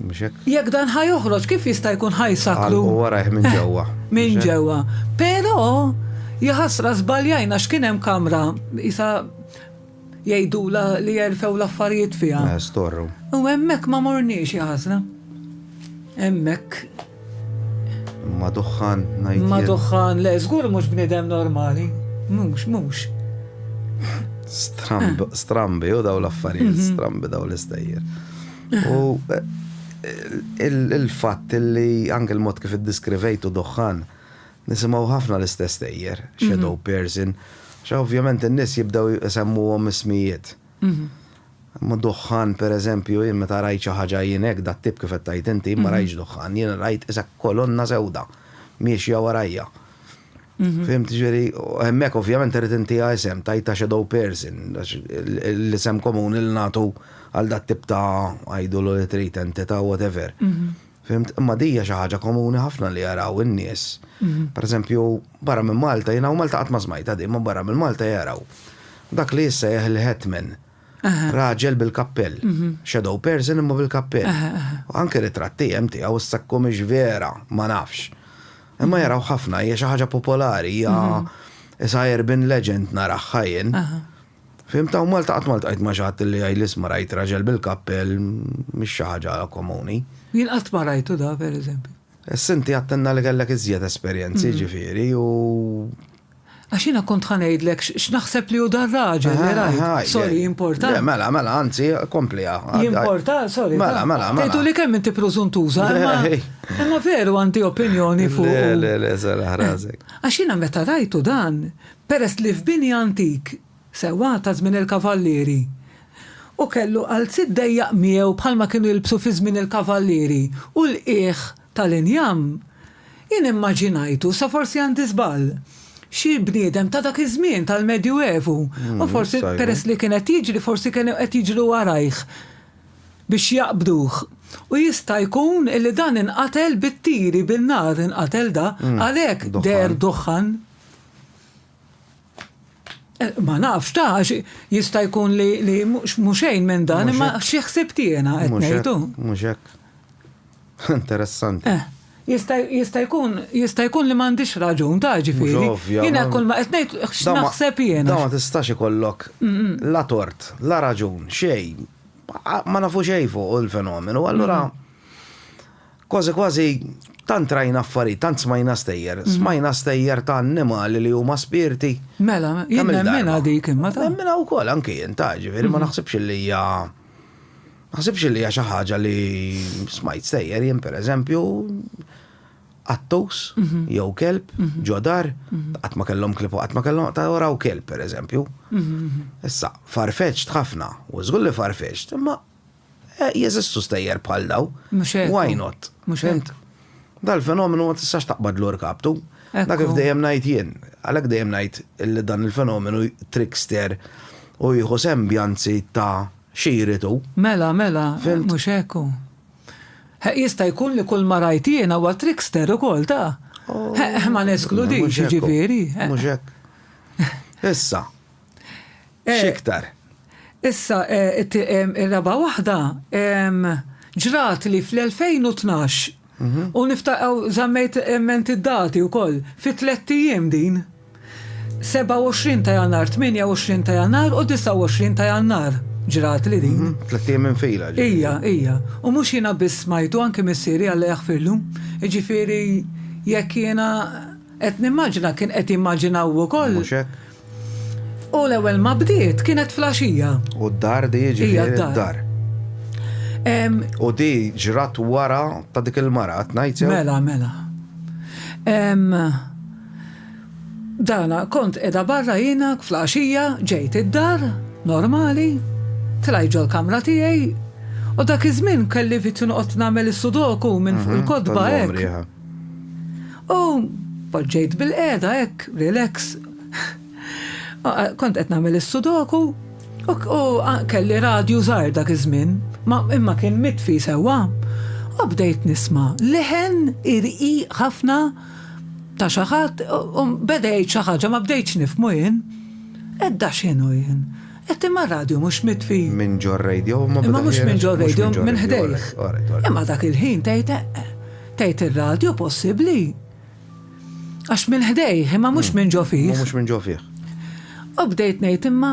Mhux hekk? Jekk dan ħa joħroġ, kif jista' jkun ħa jsakru? Għalqu warajh minn ġewwa. Minn ġewwa. Però, jaħasra żbaljajna x'kien hemm kamra, isa jgħidula li jerfew l-affarijiet fiha. Eh, storru. U hemmhekk ma morniex jaħasra. Hemmhekk. Ma duħħan ngħid. Ma duħħan, le, żgur mhux bniedem normali. Mhux, mhux. Strambi, u daw l-affarijiet, mhm. strambi daw l-istejjer. U il-fatt li anke l-mod kif iddiskrivejtu duħħan, nisimgħu ħafna l-istess tejjer, shadow person, għax ovvjament in-nies jibdew isemmuhom ismijiet. Imma duħħan pereżempju, jien meta rajt xi ħaġa jien hekk dat-tip kif qed tgħid inti, jien ma rajtx duħħan, jien rajt isha kolonna sewda miexja warajja. Fimt, ġveri, hemmhekk ovvjament irid inti isem tajta shadow person, l-isem komuni li nagħtu għal dat tip ta' għajdu l li trid entità whatever. Fimt, imma dija xi ħaġa komuni ħafna li jaraw in-nies. Pereżempju, barra minn Malta, jiena u Malta qatt ma smajta di, ma barra minn Malta jaraw. Dak li issa jeħ il-hetman. Raġel bil-kappell. Shadow person imma bil-kappell. U anke ritratti hemm tiegħu issa jkun mhix vera, ma nafx. Imma jaraw ħafna, hija xi ħaġa popolari, hija isa urban legend naraha jien. Fhimt hawn Malta qatt ma ltqajt ma' xi ħadd li jgħidli isma' rajt raġel bil-kappell, mhix xi ħaġa komuni. Jien qatt ma rajtu da, pereżempju. Issa inti għedtilna li kellek iżjed esperjenzi, jiġifieri, u. Għax jiena kont ħa ngħidlek x'naħseb li hu dan raġel li rajt. Sorry, importa. Mela, mela, anzi, kompliha. Importa, sorry. Mela, mela, mela. Tgħidu li kemm inti preżuntuża, imma veru għandi opinjoni fuq. Le, le, le, sara ħrażek. Għax jiena meta rajtu dan, peress li f'bini antik, sewwa ta' żmien il-kavallieri, u kellu qalziet dejjaq miegħu bħalma kienu jilbsu fi żmien il-kavallieri, u l-qiegħ tal-injam, jien immaġinajtu, sa forsi għandi żball, xi bniedem ta' dak iż-żmien tal-Medju Evu, u forsi peress li kien qed jiġri forsi kienu qed jiġru warajh biex jaqbduh. U jista' jkun illi dan inqatel bit-tiri, bin-nar inqatel da, għalhekk deher duħħan. Eh, ma nafx ta' jista' jkun li li muxejn minn dan imma xi ħsib tiena qed ngħidu. Mhux hekk. Interessanti. Eh, jista' jkun jista' jkun li m'għandix raġun ta' ġifieri. Jiena kull ma qed ngħid x'naħseb jiena. Da ma tistax ikollok la tort, la raġun, xejn. Ma nafu xejn fuq il-fenomenu, allura Kważi kważi tant rajna affarijiet, tant smajna stejjer, smajna stejjer ta' annimali li huma spirti. Mela, jien nemminha dik imma ta'. Nemminha wkoll anki jien ta', ġifieri ma naħsibx illi hija ma naħsibx illi hija xi ħaġa li smajt stejjer jien pereżempju qattus jew kelb ġo dar qatt ma kellhom klieb u qatt ma kellhom ta' raw kelb pereżempju. Issa, farfetxt ħafna u żgur li farfetxt imma Jeżistu stejjer bħal dawn. Mhux hekk. Why not? Mhux hekk. Dal-fenomenu ma tistax taqbadlu rkabtu. Dak kif dejjem ngħid jien. Għalhekk dejjem ngħid li dan il-fenomenu trickster u jieħu sembjanzi ta' xi jrid hu. Mela, mela, mhux hekk hu. Jista' jkun li kull ma rajt jiena huwa trickster ukoll ta'. Ma neskludix, jiġifieri. Mhux hekk. Issa, Eh, Xiktar. Issa, eh, it- em, ir-raba waħda em, ġrat li fl-2012 Mhm. u niftaqaw zammejt emment id-dati u koll fi tlet ijiem din. 27 ta' jannar, 28 ta' jannar u 29 ta' jannar ġrat li din. Mhm. Tlettijiem minn fila. ġi. Ija, ija. U mux jina biss smajtu anki missieri għalla jaħfirlu. Ġifiri, jekk jina qed nimmaġina kien qed jimmaġinaw ukoll. Mhux hekk? U l-ewwel ma bdiet kienet flaxija. U d-dar di jiġifieri d-dar. U di ġrat wara ta' dik il-mara, tnajt jew? Mela, mela. Dana, kont edha barra jina flaxija, ġejt id-dar, normali, tlajt ġol kamra tiegħi, u dak iż-żmien kelli vizzju noqgħod nagħmel is-sudoku minn fuq mhm, il-kodba hekk. U poġġejt bil-qiegħda hekk, relax. Kont qed nagħmel is-sudoku u kelli radju żgħar dak iż-żmien, ma imma kien mitfi sewwa. U bdejt nisma' leħen irqiq ħafna ta' xi ħadd u beda jgħid xi ħaġa ma bdejtx nifhmu jien. Edda x'inhu jien? Qed imma r-radju mhux mitfi. Minn ġor-radio, imma meta ħiereġ. Imma mhux minn ġor-radio, minn ħdejh. Imma dak il-ħin tgħid eqq. Tgħid ir-radju possibbli. Għax minn ħdejh, imma mhux minn ġo fih. Imma mhux minn ġo fih. U bdejt ngħid imma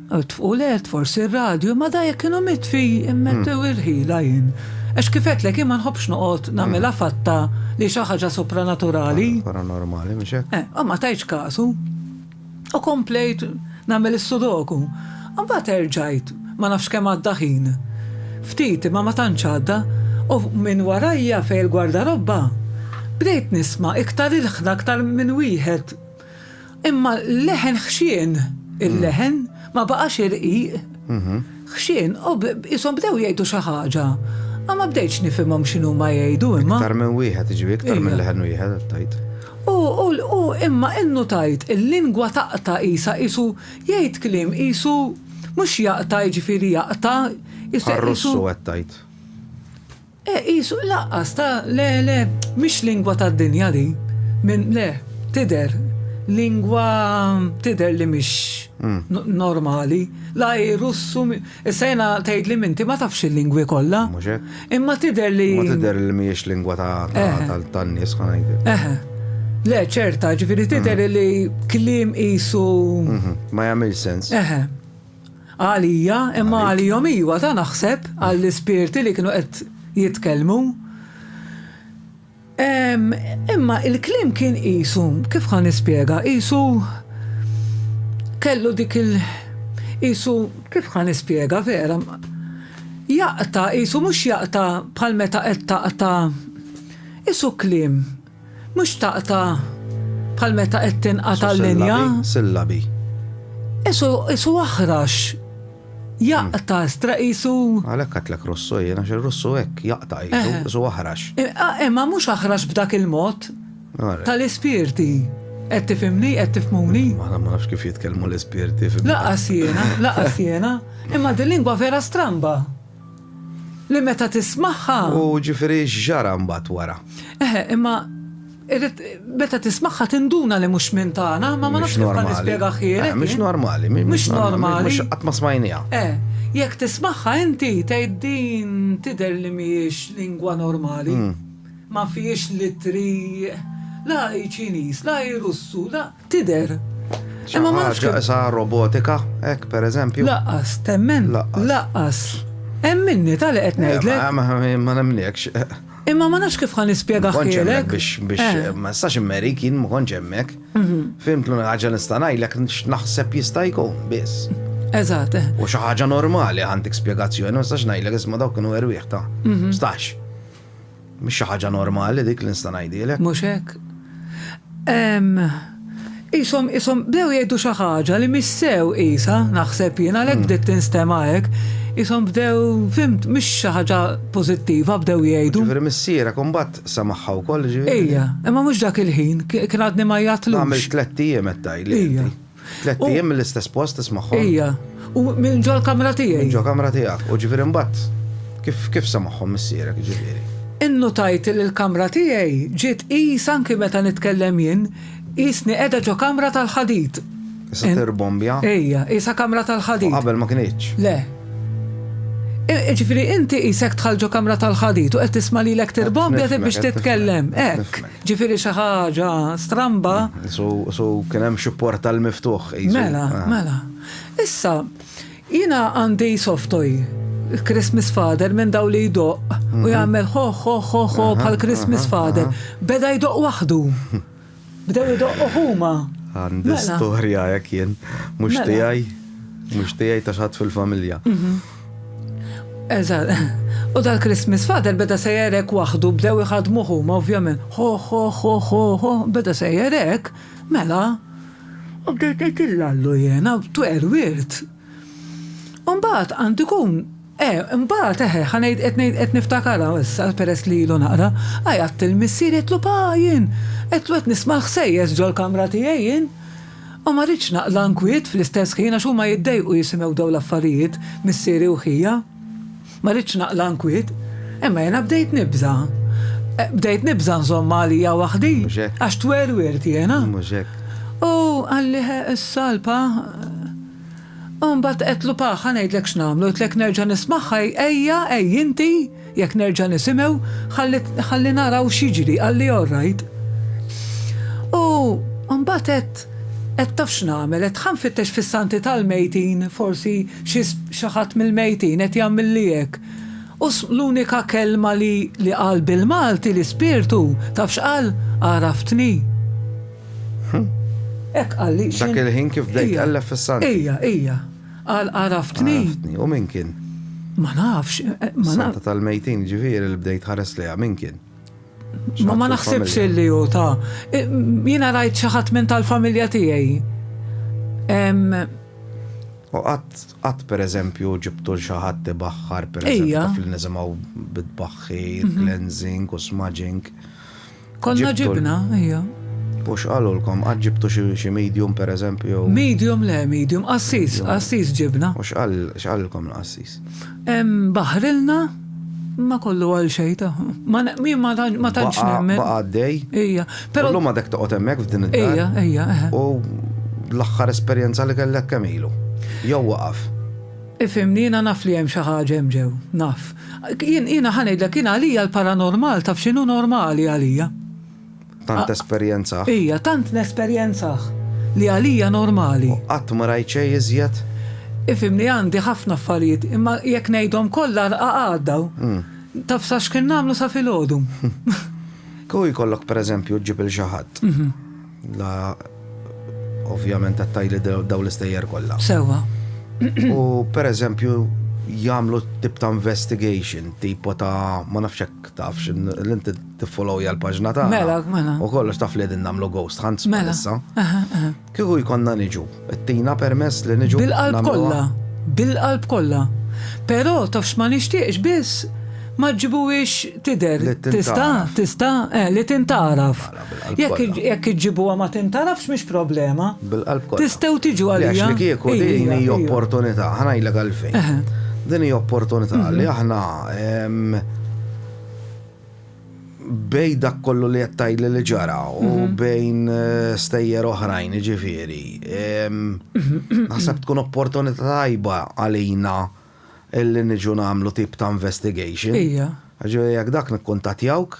tfqu l-ert forsi r-radju, imma da jekk kienu mitfi, immettew il-ħila jien. Għax kifet lek imma nħobbx noqgħod nagħmilha fatta li xi ħaġa supranaturali. Paranormali, mhux hekk? Eh, imma tajtx kasu. U komplejt nagħmel is-sudoku. Mbagħad erġajt, ma nafx kemm għadda ħin. Ftit, imma ma tantx għadda, u minn warajja fejn il-gwardarobba, bdejt nisma' iktar ilħna aktar minn wieħed. Imma l-leħen ħxien, il-leħen ma baqax irqiq. Ħxien, o qishom bdew jgħidu xi ħaġa. A ma bdejtx nifhimhom x'inhuma jgħidu imma. Iktar minn wieħed, jiġifieri iktar minn leħen wieħed qed tgħid. U, u, u imma innutajt il-lingwa taqta' qisha qisu jgħid kliem qisu mhux jaqta' jiġifieri jaqta' qisu. Bħar-Russu qed tgħid. Eh, qisu, laqqas, ta, le, le, mhix lingwa tad-dinja din. Minn, le, tidher, lingwa tidher li mhix normali. La hi Russu, issa jiena tgħidli minti ma tafx il-lingwi kollha. Mhux hekk. Imma tidher li. Ma tidher li mhijiex lingwa ta' tan-nies, ħa ngħidlek. Eħe. Le, ċerta, ġifieri tidher li kliem qisu. Ma jagħmilx sens. Eħe. Għalija, imma għalihom iva, ta' naħseb, għall-ispirti li kienu qed jitkellmu. Imma il-kliem kien qisu, kif ħa nispjega, qisu kellu dik il- qisu kif ħa nispjega vera. Jaqta, qisu mhux jaqta bħal meta qed taqta' qisu kliem. Mhux taqta' bħal meta qed tinqata' l-linja. Sillabi. Qisu qisu aħrax. Jaqta' stra qisu. Għalhekk għedtlek Russu jien għax ir-Russu hekk jaqta' qisu qisu aħrax. Imma mhux aħrax b'dak il-mod tal-ispirti. Qed tifhimni, qed tifhmuni? Aħna ma nafx kif jitkellmu l-ispirti. Laqas jiena, laqas jiena. Imma dil-lingwa vera stramba. Li meta tismagħha. U ġifieri x'ġara mbagħad wara? Eħe, imma irrid meta tismagħha tinduna li mhux minn tagħna, imma ma nafx kif nispjega ħjielek. Eh, mhux normali, mhux normali. Mhux qatt ma smajniha. Eh, jekk tismagħha inti tgħid din tidher li mhijiex lingwa normali. Hmm. Ma fihiex litri la hi Ċiniż, la hi Russu, la. Tider. Imma ma nafx. Sa robotika, hekk pereżempju. Laqqas, temmen. Laqqas. Hemm minni tal qed eh, ngħidlek. Ma nemniekx. Imma ma nafx kif ħan nispjega ħilek. Biex biex eh. eh, ma sax immeri kien ma konċ hemmhekk. Mhm. Fimt l ħaġa nista' ngħidlek naħseb jista' jkun biss. Eżatt. Eh. U xi ħaġa normali għandek spjegazzjoni, ma sax ngħidlek isma' dawk kienu erwieħ ta' mhm. stax. Mhix xi ħaġa normali dik li nista' ngħidilek. Mhux hekk? Ehm, qishom, qishom bdew jgħidu xi ħaġa li mhix sew qisha, naħseb jien, għalhekk bdiet tinstema' hekk. Qishom bdew, fhimt, mhix xi ħaġa pożittiva bdew jgħidu. Ġifieri missierek imbagħad samagħha wkoll, ġifieri? Ija, imma mhux dak il-ħin, kien għadni ma għajjatlux. Għamilt tlett ijiem qed tgħidli inti. Ija. Tlet ijiem mill-istess post tismagħhom? Ija, u minn ġo l-kamra tiegħi. Minn ġo kamra tiegħek, u ġifieri mbagħad kif kif semagħhom missierek ġifieri? Innutajt li l-kamra tiegħi ġiet qis anki meta nitkellem jien, qisni qiegħda ġo kamra tal-ħadid. Issa tirbombja? Ija, qisha kamra tal-ħadid. U qabel ma kinitx? Le. Ġifieri inti qisek dħalt ġo kamra tal-ħadid u qed tisma' lilek tirbombja biex titkellem, hekk. Ġifieri xi ħaġa stramba. So kien hemm xi portal miftuħ. Mela, ah. mela. Issa, jiena għandi soft toy Christmas Father minn daw li jdoq u mhm. jagħmel ho ho ho ho bħal Christmas Father. Beda jdoq waħdu. Bdew jdoq huma. Għandi mela. storja jekk jien mhux mela. tiegħi mhux tiegħi ta' xatt fil-familja. Mhm. Eżatt. U dal-Christmas father beda sejjer hekk waħdu, bdew iħaddmuh huma ovvjament. Ho ho ho ho ho, beda sejjer hekk, mela. U bdejt ngħid lil Allu jiena, twegħel wirt. U mbagħad għandu jkun, eh, mbagħad eħe, ħa ngħid, qed ngħid, qed niftakarha issa peress li ilu naqra, għajatt lill-missier għedtlu pa jien, għedtlu qed nisma' l-ħsejjes ġol-kamra tiegħi jien. U ma ridtx naqla' nkwiet fl-istess ħin għax huma jiddejqu jisimgħu dawn l-affarijiet, missieri u ħija. Ma ridtx naqla' nkwiet. Imma jiena bdejt nibża'. Bdejt nibża' nżommha għalija waħdi, għax twerwirt jiena. U qalli, Issa, l-pa. U mbagħad għedtlu, Pa, ħa ngħidlek x'nagħmlu, għidtlek nerġa' nismagħha, ejja, ejja inti. Jekk nerġa' nisimgħu, ħalli naraw x'jiġri, qalli all right. U mbagħad għedt, għedt taf x'nagħmel, għedt ħa nfittex fis-santi tal-mejtin, forsi xi ħadd mill-mejtin qed jagħmilli hekk. U l-unika kelma li qal bil-Malti l-ispirtu, taf x'qal? Għaraftni. Hekk qalli. Dak il-ħin kif bdejt tqelleb fis-santi. Ija, ija. Qal għaraftni. Għaraftni. U min kien? Ma nafx. Santa tal-mejtin ġifieri li bdejt ħares lejha min kien? Ma ma naħsibx illi hu ta' jiena rajt xi ħadd minn tal-familja tiegħi. U qatt qatt pereżempju ġibtu l xi ħadd ibaħħar pereżempju fl-nisimgħu bitbaħħir, cleansing u smudging. Konna ġibna, ija. U x'qalulkom, qatt ġibtu xi medium pereżempju? Medium le, medium, qassis, qassis ġibna. U x'qalilkom l-qassis? Baħrilna ma kollu għal xejn ta' ma tantx nemmen. Baqa' għaddej. Ija. Però llum għadek toqgħod hemmhekk f'din id-dar. Ija, ija. U l-aħħar esperjenza li kellek kemm ilu? Jew waqaf? Ifhimni, jiena naf li hemm xi ħaġa hemm ġew, naf. Jiena ħa ngħidlek, jiena għalija l-paranormal taf x'inhu normali għalija. Tant tesperjenzah. Ija, tant nesperjenzah li għalija normali. U qatt ma rajt xejn iżjed? Ifhimni għandi ħafna affarijiet imma jekk ngħidhom kollha rqa' għadda. Taf sa x'kien nagħmlu sa filgħodu. Kieku jkollok pereżempju ġġib 'il xi ħadd. La, ovvjament qed tgħidli dawn l-istejjer kollha. Sewwa. U pereżempju jagħmlu tip ta' investigation, tipo ta' ma nafx hekk tafx l-inti tiffollowja l-paġna ta' Mela, mela. U kollox taf li din nagħmlu ghost hunts mela. issa. Kieku jkollna niġu, ittina permess li niġu. Bil-qalb kollha, bil-qalb kollha. Però tafx ma nixtieqx biss ma ġġibuhiex tidher. Tista', tista', eh, li tintaraf. Jekk iġġibuha ma tintarafx mhix problema. Bil-qalb kollha. Tistgħu tiġu għalija. Għax li kieku din hi opportunità, ħanajlek għalfejn. Din hi opportunità mhm. li aħna bej dak kollu li qed tgħidli li ġara u mhm. bejn eh, stejjer oħrajn ġifieri. Mhm. Naħseb tkun opportunità tajba għalina illi niġu nagħmlu tip ta' investigation. Ija. Ġifieri jekk dak nikkuntatjawk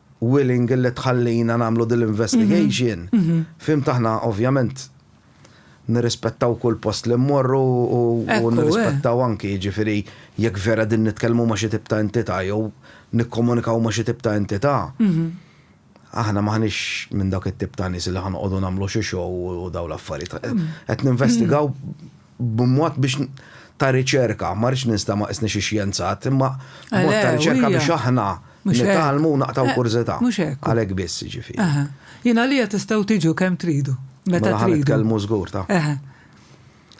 willing illi tħallina nagħmlu din l-investigation, fhimt aħna ovvjament nirrispettaw kull post li mmorru u nirrispettaw anki jiġifieri jekk vera din nitkellmu ma' xi tip ta' entità jew nikkomunikaw ma' xi tip ta' entità. Aħna m'aħniex minn dawk it-tip ta' nies li ħa noqogħdu nagħmlu xi show u dawn l-affarijiet. Qed ninvestigaw b'mod biex ta' riċerka, ma rridx ninsta ma qisni xi xjenzat, imma b'mod ta' riċerka biex aħna nitgħallmu u naqtgħu kurżità. Mhux hekk. Għalhekk biss, jiġifieri. Jien għalija tistgħu tiġu kemm tridu, meta tridu. Mela ħa nitkellmu żgur ta'.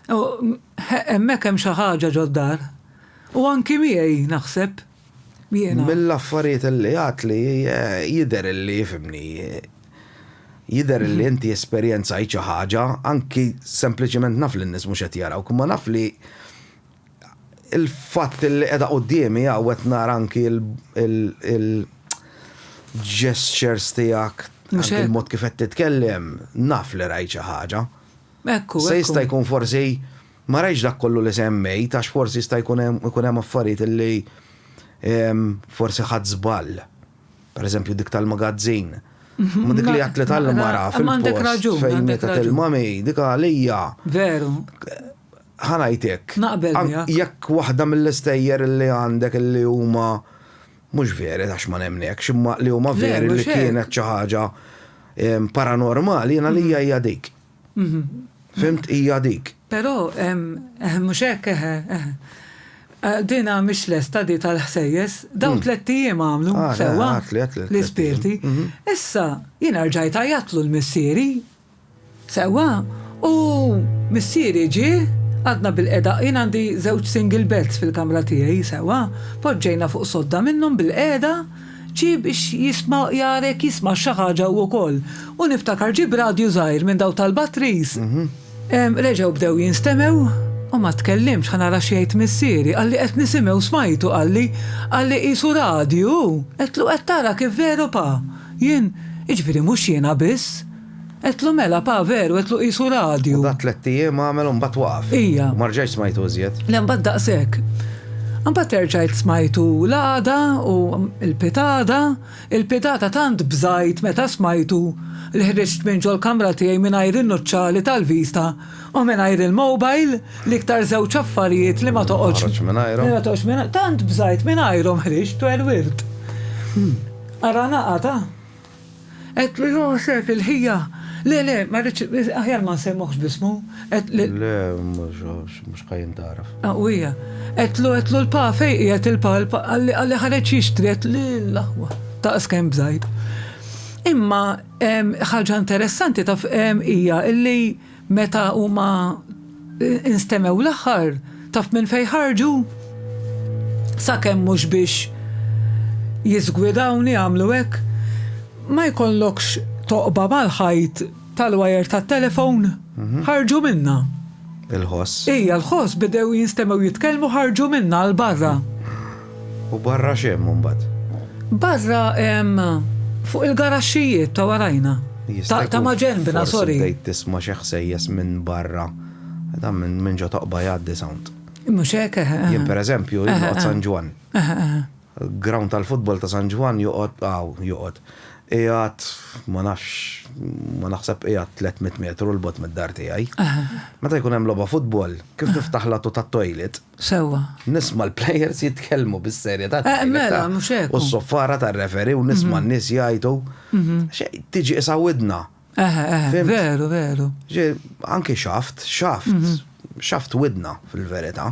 Hemmhekk hemm xi ħaġa ġod-dar. U anki miegħi naħseb, Mill-affarijiet li għadtli jidher li fhimni, jidher li inti esperjenzajt xi ħaġa, anki sempliċement naf li n-nies mhux qed jarawk, imma naf li l-fatt li qiegħda quddiemi hawn qed nara anki l-gestures tiegħek, anki l-mod kif qed titkellem, naf li rajt xi ħaġa. Se jista' jkun forsi Ma rajtx dak kollu li semmejt għax forsi jista' jkun hemm ikun hemm affarijiet illi forsi ħadt żball. Per eżempju dik tal-magazzin. Ma dik li għedtli tal-mara fil-post fejn mietet il-mami dik għalija. Veru. Ħa ngħidlek. Naqbel miegħek. Jekk waħda mill-istejjer illi għandek illi huma mhux veri għax ma nemmnekx imma li huma veri li kienet xi ħaġa paranormali jien għalija hija dik. Fimt hija dik. Però hemm, eħe mhux hekk eħe, eħe. Dina mhix lesta di tal-ħsejjes, dawn tlett ijiem għamlu sewwa l-ispirti. Issa jiena rġajt għajjatlu l-missieri. Sewwa, u missieri ġie, għadna bil-qeda, jien għandi żewġ single beds fil-kamra tiegħi, sewwa, poġġejna fuq sodda minnhom bil-qeda, Ġie biex jisma' jara jekk jismax xi ħaġa hu wkoll. U niftakar ġieb radju żgħir minn dawk tal-batteries. Reġgħu bdew jinstemew u ma tkellimx ħa nara x'jgħid missieri. Qalli qed nisimgħu u smajtu qalli, qalli qisu radju hu. Għedtlu qed tara kif veru pa. Jien, jiġifieri mhux jiena biss. Għedtlu mela, pa, veru, għedtlu qisu radju. U da tlett ijiem għamel u mbagħad waqaf. Ija. U ma rġajtx smajtu iżjed. Le mbagħad daqshekk. Mbagħad erġajt smajtu l-għada u l-pitada, il-pitada tant bżajt meta smajtu li ħriġt minn ġol-kamra tiegħi mingħajr in-nuċċali tal-vista u mingħajr il-mobile, l-iktar żewġ affarijiet li ma toqgħodx. Toħroġ mingħajrhom. Li ma toqgħodx mingħajrhom. Tant bżajt mingħajrhom ħriġt u erwirt. Ara naqgħad, ah. Għedtlu Josef, il-ħija, Le, le, ma rridx, aħjar ma nsejmuhx b'ismu. Le, mhux ħa jintgħaraf. U hija, Għedtlu, għedtlu l-pa, fejn qiegħed il-pa, għalli ħareġ jixtri, għedtlu l-aħwa, daqs kemm bżajt. Imma ħaġa interessanti taf hija illi Meta huma instemew l-aħħar, taf minn fejn ħarġu? Sakemm mhux biex jiżgwidawni għamlu hekk, ma jkollokx toqba mal-ħajt tal-wajer tat-telefon? Ħarġu minnha. Il-ħoss. Ija, l-ħoss, bidew jinstemew jitkellmu ħarġu minnha għal barra. U barra x'hemm imbagħad? Barra hemm fuq il-garaxxijiet ta' warajna. Ta' ma' ġenbna, sorry. Bdejt tisma' xi ħsejjes minn barra. Dan minn ġo toqba jgħaddi sound. Mhux hekk, eħe. Jien pereżempju, jien noqgħod San Ġwann. Ground tal-futbol ta' San Ġwann joqgħod hawn, joqgħod. Qiegħed, ma nafx, ma naħseb qiegħed 300 metru 'l bogħod mid-dar tiegħi. Meta jkun hemm logħba futbol, kif niftaħ l-għatu tat-toilet, Sewwa. Nisma' l-plejers jitkellmu bis-serjetà ta' Eh, mela, mhux hekk. U s-soffara tar-referi u nisma' n-nies jgħidu. Tiġi qisha widna. Eh, eh, veru, veru. Ġie, anki xaft, xaft, xaft widna fil-verità.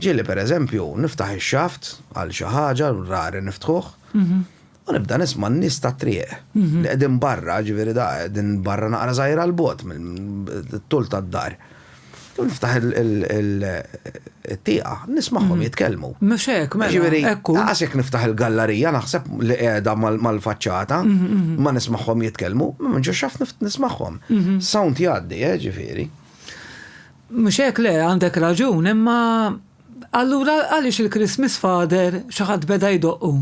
Ġieli, pereżempju, niftaħ ix-xaft għal xi ħaġa, rari niftħuh, U nibda nisma' n-nies tat-triq li qegħdin barra, ġifieri da, din barra naqra żgħira 'l bogħod mit-tul tad-dar. U niftaħ it-tieqa, n-nies magħhom jitkellmu. Mhux hekk, mela, hekk hu. Ġifieri, anqas jekk niftaħ il-gallarija naħseb li qiegħda mal-faċċata, ma nismagħhom jitkellmu, ma nkunx xaft nismagħhom. Sound jgħaddi, eh, ġifieri. Mhux hekk, le, għandek raġun, imma allura għaliex il-Christmas Father xi ħadd beda jdoqqu?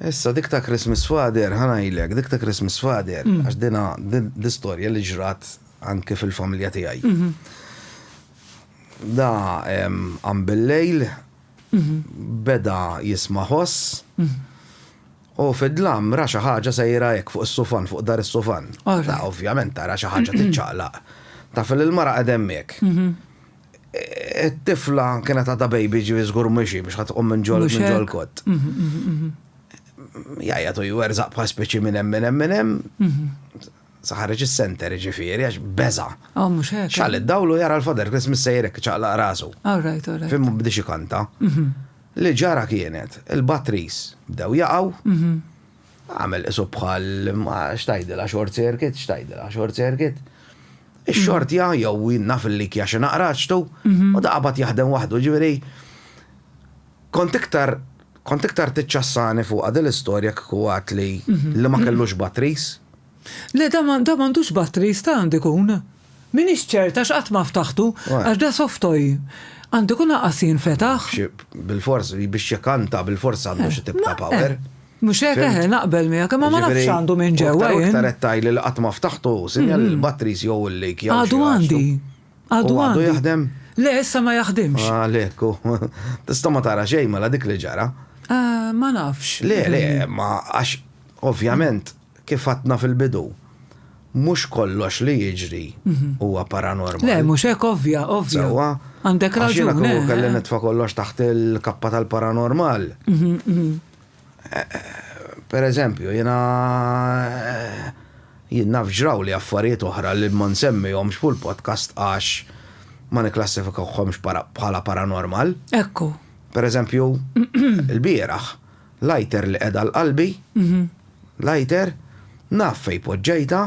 Issa dik ta' Christmas Father, ħa ngħidlek, dik ta' Christmas Father, għax din hi storja li ġrat anke fil-familja tiegħi. Da qam bil-lejl, beda jisma' ħoss, u fi d-dlam ra xi ħaġa sejra hekk fuq is-sufan, fuq dahar is-sufan. Ovvjament ara xi ħaġa tiċċaqlaq. Taf li l-mara qegħda hemmhekk. it-tifla kienet għadha baby ġivi żgur mhux biex ħadd tqum minn ġol minn ġol kott. Mhm, mhm, mhm. Jajja tu jwerżaq bħal speċi minn hemm minn hemm minn hemm. Saħarġ is-center ġifieri għax beża. Ah, mhux hekk. Xal id-dawlu jara l-fader Christmas sejrek ċaqlaq rasu. All right, all right. Fimmu bdiex ikanta. Li ġara kienet, il-batteries bdew jaqgħu. Agħmel qisu bħal, ma x'tgħidilha short circuit, x'tgħidilha short circuit. Ix-xortja jew naf il-likja xi naqra ċtu u daqabad jaħdem waħdu ġifieri. Kont iktar kont iktar tiċċassani fuqha din l-istorja kieku għadtli li ma kellux batteries. Le dan ma, dan m'għandux battery, jista' għandu jkun. M'iniex ċerta għax qatt ma ftaħtu, għax da soft toy. Għandu jkun anqas jinfetaħ. Xi, bilfors, biex jekanta bilfors għandu xi tip ta' power. Mhux hekk, eħe, naqbel miegħek, imma ma nafx x'għandu minn ġewwa jien. Jiġifieri, u aktar u aktar qed tgħidli li qatt ma ftaħtu, sinjal li l-batteries jew il-leak jew xi ħaġa. Għadu għandi. Għadu għandi. U għadu jaħdem? Le, issa ma jaħdimx. Għalhekk hu. Tista' ma tara xejn mela dik li ġara. Ma nafx. Le, le, ma għax ovvjament Kif għadna fil-bidu, mhux kollox li jiġri huwa paranormal. Le, mhux hekk, ovvja, ovvja. Sewwa. Għandek raġun. Għax jiena kieku kelli nitfa' kollox taħt il-kappa tal-paranormal. Per eżempju, jiena jien naf ġraw li affarijiet oħra li ma nsemmihomx fuq il-podcast għax ma nikklassifikahomx bħala paranormal. Ekku. Per eżempju, ilbieraħ Lighter li qegħda għal qalbi, lighter, naf fejn poġġejtha,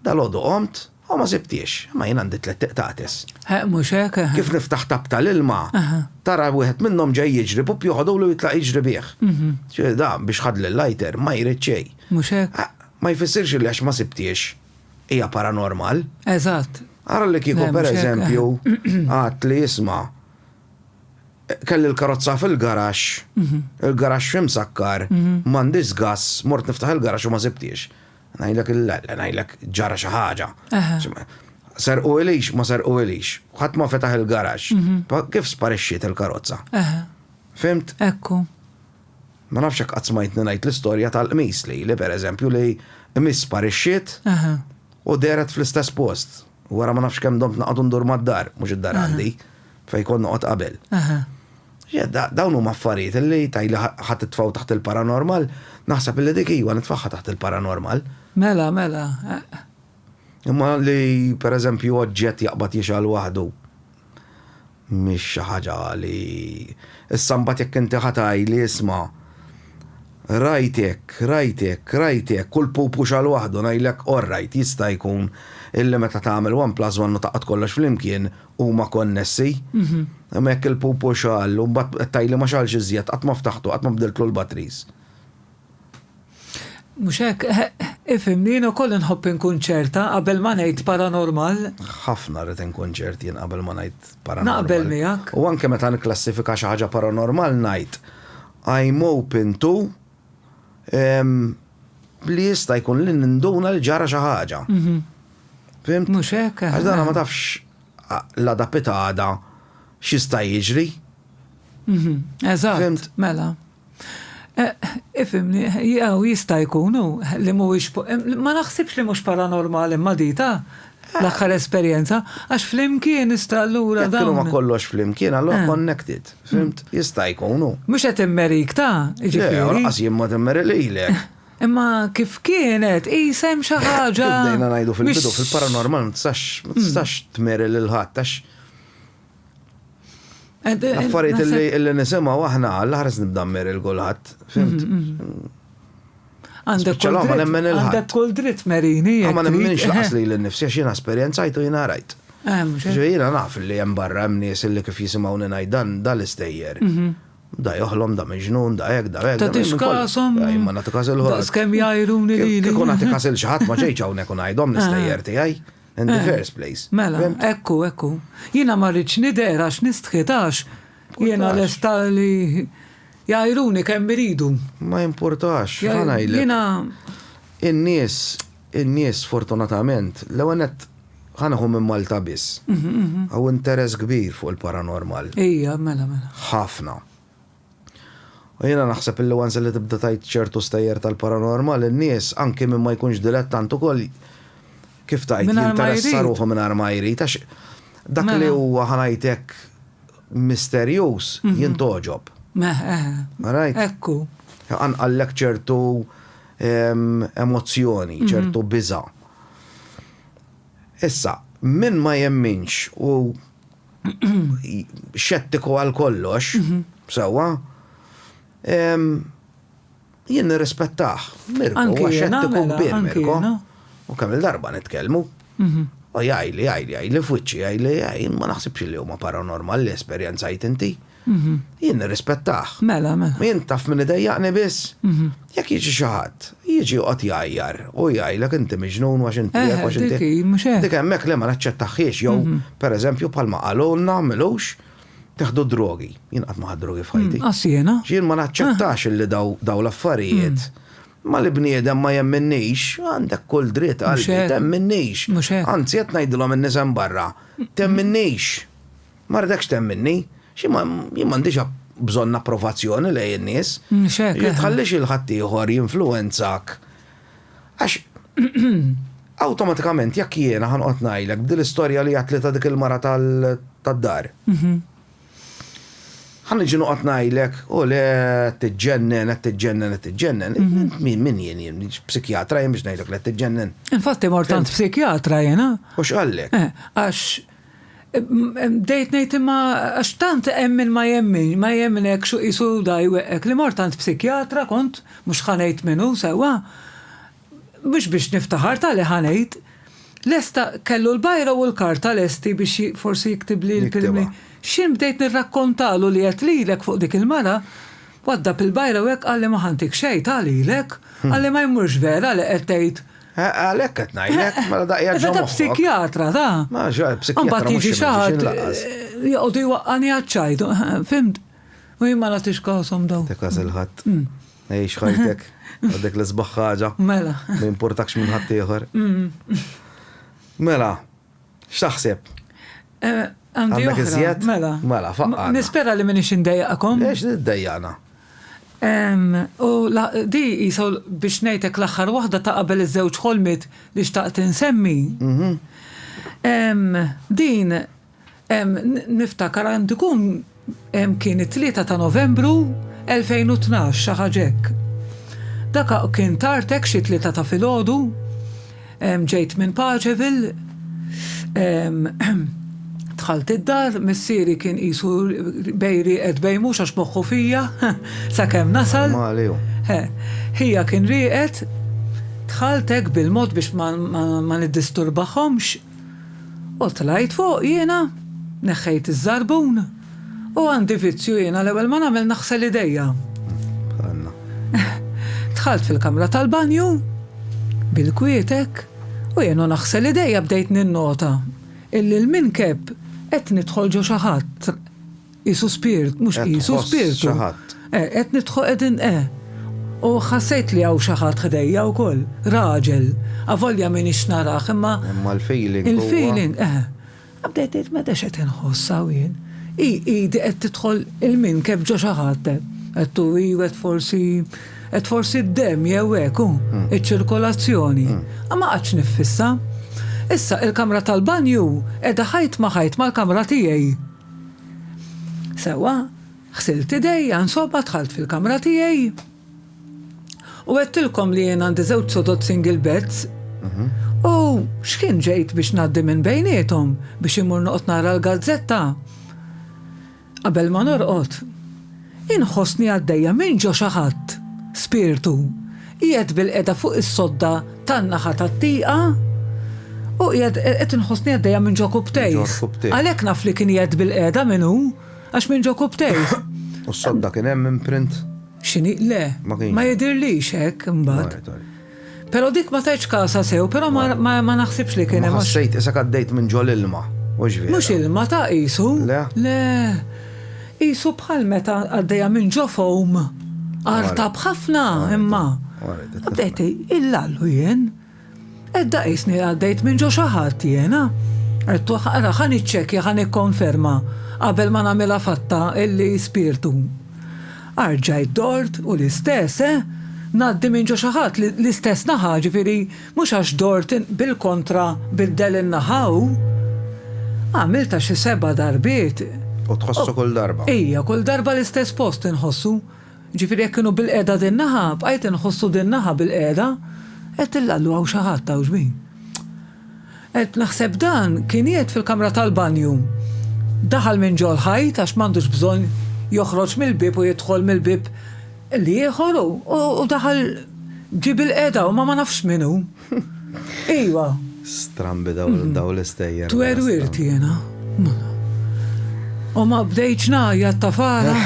dalgħodu qomt u ma sibthiex, imma jien għandi tlett iqtates. Mhux hekk? Kif niftaħ tapp tal-ilma, tara wieħed minnhom ġej jiġri, pupp joħodulu u jitlaq jiġri bih. Ġifieri da biex ħadd l-lighter ma jrid xejn. Mhux hekk? Ma jfissirx li għax ma sibthiex hija paranormal. Eżatt. Ara li kieku pereżempju għadt li isma'. Kelli l-karozza fil-garaxx, il-garaxx f'imsakkar, m'għandix żgass, mort niftaħ il-garaxx u ma sibtiex. Ngħidlek le, le ngħidlek ġara xi ħaġa. Serquhielix, ma serquhielix. Ħadd ma fetaħ il-garaxx. Kif sparixxiet il-karozza? Fhimt? Ekku. Ma nafx hekk qatt smajtni ngħid l-istorja tal-qmis li, pereżempju, li qmis sparixxiet u dehret fl-istess post. Wara ma nafx kemm domt naqgħod ndur mad-dar, mhux id-dar għandi, fejn kont noqgħod qabel. Dawn huma affarijiet li tgħidli ħa titfgħu taħt il-paranormal, naħseb li dik iva nitfagħha taħt il-paranormal. Mela, mela. Imma li pereżempju oġġett jaqbad jixgħal waħdu. Mhix xi ħaġa li issa mbagħad jekk inti ħa tgħidli isma' rajt hekk, rajt hekk, rajt hekk u l-pupu xagħal waħdu ngħidlek orrajt jista' jkun illi meta tagħmel one plus one u tgħaqqad kollox flimkien huma konnessi. Imma jekk il-pupu xagħal u mbagħad qed tgħidli ma xagħalx iżjed, qatt ma ftahtu, qatt ma bdiltlu l-batteries. Mhux hekk? Ifhimni, jien ukoll inħobb inkun ċerta qabel ma ngħid paranormal. Ħafna rrid inkun ċert jien qabel ma ngħid paranormal. Naqbel miegħek. U anke meta nikklassifika xi ħaġa paranormal ngħid I'm open to li jista' jkun li ninduna li ġara xi ħaġa. Fihimt? Mhux hekk? Għax dan ma tafx l-għada pitgħada x'jista' jiġri. Mhm, eżatt, mela. Ifhimni, jew jista' jkun hu li mhuwiex ma naħsibx li mhux paranormali imma dita l-aħħar esperjenza għax flimkien ista' allura dan. Kienu ma kollox flimkien, allura eh. connected. Fimt, jista' jkun hu. Mhux qed immerik ta', ġifieri. Qas jien ma timmerililek. Imma kif kienet, qisha hemm xi ħaġa. Kif bdejna ngħidu fil-bidu, fil-paranormal ma tistax ma tistax tmeri lil ħadd għax affarijiet li li nisimgħu aħna l-aħres nibda mmeri lil kulħadd, fimt? Għandek Spiċċa l-għoma nemmen il-ħadd. għandek kull dritt merini. jekk Ma trid. nemminx laqas li l-nifsi għax jiena esperjenzajt u jiena rajt. Eh, mhux hekk. Ġifieri jiena naf li hemm barra hemm nies li kif jisimgħuni ngħid dan dan l-istejjer. Da joħlom, da miġnun, da hekk, da hekk. Ta' tix kasom. Ma nagħti kas il-ħodd. Da skemm jgħajruni li. Kieku nagħti kas il xaħat ma ġejċ hawnhekk u ngħidhom l-istejjer tiegħi. In the first place. Mela, ekku, ekku. Jiena ma rridx nidher għax nistħitax. Jiena lesta li jgħajruni kemm iridu. Ma jimpurtax, ħanajlek. Jiena. In-nies In-nies fortunatament, l-ewwel nett ħa neħu minn Malta biss, hawn interess kbir fuq il-paranormal. Ija, mela, mela. Ħafna. U jiena naħseb illi once illi tibda tgħid ċertu stejjer tal-paranormal, in-nies, anki min ma jkunx dilettant ukoll, kif tgħid, jinteressa ruħu mingħajr ma jrid, għax dak li huwa ħa ngħid hekk misterjuż jintgħoġob. Ekku. Anqallek ċertu emozzjoni, ċertu biża'. Issa, min ma jemminx u xettiku għal kollox, sewwa, jien nirrispettah. Mirko huwa xettiku kbir, Mirko. U kemm il-darba nitkellmu. U jgħidli, jgħidli, jgħidli f'wiċċi, jgħidli, jien ma naħsibx li huma paranormal li esperjenzajt inti. Jien nirrispettah. Mela, mela. U jien taf min idejjaqni biss? Jekk jiġi xi ħadd, jiġi joqgħod jgħajjar u jgħidlek inti miġnun għax inti hekk għax inti. Eħe, dik hi, mhux hekk? Dik hemmhekk le ma naċċettahhiex jew, pereżempju, bħalma qalulna m'ilux, teħdu d-drogi. Jien qatt ma ħadt drogi f'ħajti. Lanqas jiena. Jien ma naċċettax li dawn l-affarijiet ma li bniedem ma jemminnix, għandek kull dritt qalbi, temminnix. Mhux hekk. Anzi qed ngħidilhom in-nies hemm barra, temminnix. Ma rridekx temminni, xi ma, jien m'għandix bżonn approvazzjoni lejn in-nies. X'hekk. Jien tħallix lil ħaddieħor jinfluwenzak għax awtomatikament jekk jiena ħanqgħod ngħidlek b'din l-istorja li għedtli ta' dik il-mara tad-dar. Ħa niġi noqgħod ngħidlek, u le, qed tiġġennen, qed tiġġennen, qed tiġġennen. Min, min jien, jien psikjatra jien biex ngħidlek li qed tiġġennen. Infatti mort għand psikjatra jiena. U x'qallek? Għax Bdejt ngħid imma għax tant hemm min ma jemminx, ma jemminekx u qisu da jweqqek li mort għand psikjatra kont, mhux ħa ngħid min hu sewwa, mhux biex niftaħar tali ħa ngħid, lesta kellu l-bajra u l-karta lesti biex forsi jiktibli l-kelmiet. X'jien bdejt nirrakkontalu li għedt lilek fuq dik il-mara, Waddab il-bajra u hekk qalli ma ħa ntik xejn ta' lilek, qalli ma jmurx vera li qed tgħid. Għalhekk qed ngħidlek, mela daqja ġo moħħok. Meta psikjatra ta. Ma ġo psikjatra. Mbagħad jiġi xi ħadd joqogħdu jwaqqani għaċ-ċajt, fimt? U jien ma nagħtix kasom daw. Dik għażel ħadd. Għix ħajtek, għadek l-isbaħ ħaġa. Mela. Ma jimpurtakx minn ħaddieħor. Mela. X'taħseb? Għandi oħra. Mela. Mela, faqqa. Nispera li minix indejjaqkom. Ex niddejjaqna. U di jisa biex nejtek l-axħar waħda ta' qabel iż-żewġ ħolmit li xtaqt insemmi. Mhm. Din niftakar għandikun Kien it-Tlieta ta' Novembru 2012, xi ħaġa hekk. Dak kien tard hekk xi tlieta ta' filgħodu. Ġejt minn Pageville, dħalt id-dar, missieri kien qisu bej rieqed bej mhux għax moħħu fija sakemm nasal. Mali hu. Ħija kien rieqed, dħalt hekk bil-mod biex ma niddisturbahomx. U tlajt fuq jiena, neħħejt iż-żarbun, u għandi vizzju jiena l-ewwel ma nagħmel naħsel idejja. Bħalna. Dħalt fil-kamra tal-banju, bil-kwiet hekk, u jien u naħsel idejja bdejt ninnota illi l-minkeb qed nidħol ġo xi ħadd. Qisu spirt, mhux qisu, spirtu. Qed tħoss xi ħadd. Eh, qed nidħol, qegħdin, eh. U ħassejt li hawn xi ħadd ħdejja wkoll, raġel. Avolja m'iniex narah, imma. Imma l-feeling huwa. Il-feeling, eh. Bdejt ngħid meta x'qed inħoss hawn jien. Hi idi qed tidħol il-minkeb ġo xi ħadd, eh. Għedtu hi qed forsi qed forsi d-demm jew hekk hu, hmm. iċ-ċirkolazzjoni. Hmm. Ma qatx niffissa. Issa il-kamra tal-banju qiegħda ħajt ma ħajt mal-kamra tiegħi. Sewwa, ħsilt idejja, insomma dħalt fil-kamra tiegħi u għedtilkom li jien għandi żewġ sodod single beds u x'kien ġejt biex ngħaddi minn bejniethom biex imur noqgħod nara l-gazzetta. Qabel ma norqod, Inħossni għaddejja minn ġo xi ħadd, spirtu, qiegħed bilqiegħda fuq is-sodda tan-naħa tat-tieqa u qiegħed qed inħossni għaddejja minn ġo kubtejh. Għalhekk naf li kien qiegħed bilqiegħda min hu, għax minn ġo kubtejh. U s-sodda kien hemm imprint? X'inhi? Le, ma jidhirlix hekk imbagħad. Pero dik ma tajtx kasha sew, pero ma naħsibx li kien hemm. Ma ħassejt isek għaddejt minn ġol ilma, hux vera? Mhux ilma ta' qisu. Le? Le. Qisu bħal meta għaddejja minn ġo foam. Artab ħafna imma. Għaddejt il-lallu jien. Edda qisni għaddejt minn ġo xi ħadd jiena. Għettu ħara ħan iċċekja ħan ikkonferma qabel ma nagħmilha fatta illi spirtu. Arġajt dort u l-istess, eh, ngħaddi minn ġo xi ħadd li l-istess naħa, ġifieri mhux għax dort in, bil-kontra biddel in-naħa hu. Għamiltha xi seba' darbiet. U tħossu kull darba. Ija, kull darba l-istess post inħossu. Ġifieri jekk kienu bilqiegħda din-naħa, bqajt inħossu din-naħa bilqiegħda. Għedtilha, Allu hawn xi ħadd hawn x'bin? Qed naħseb dan kien qiegħed fil-kamra tal-banju. Daħal minn ġol-ħajt għax m'għandux bżonn joħroġ mill-bieb u jidħol mill-bieb l-ieħor u daħal ġie bilqiegħda u ma ma nafx min hu. Ejwa. Strambi dawn l-istejjer. Twerwirt jiena. U ma bdejtx ngħajjat tafala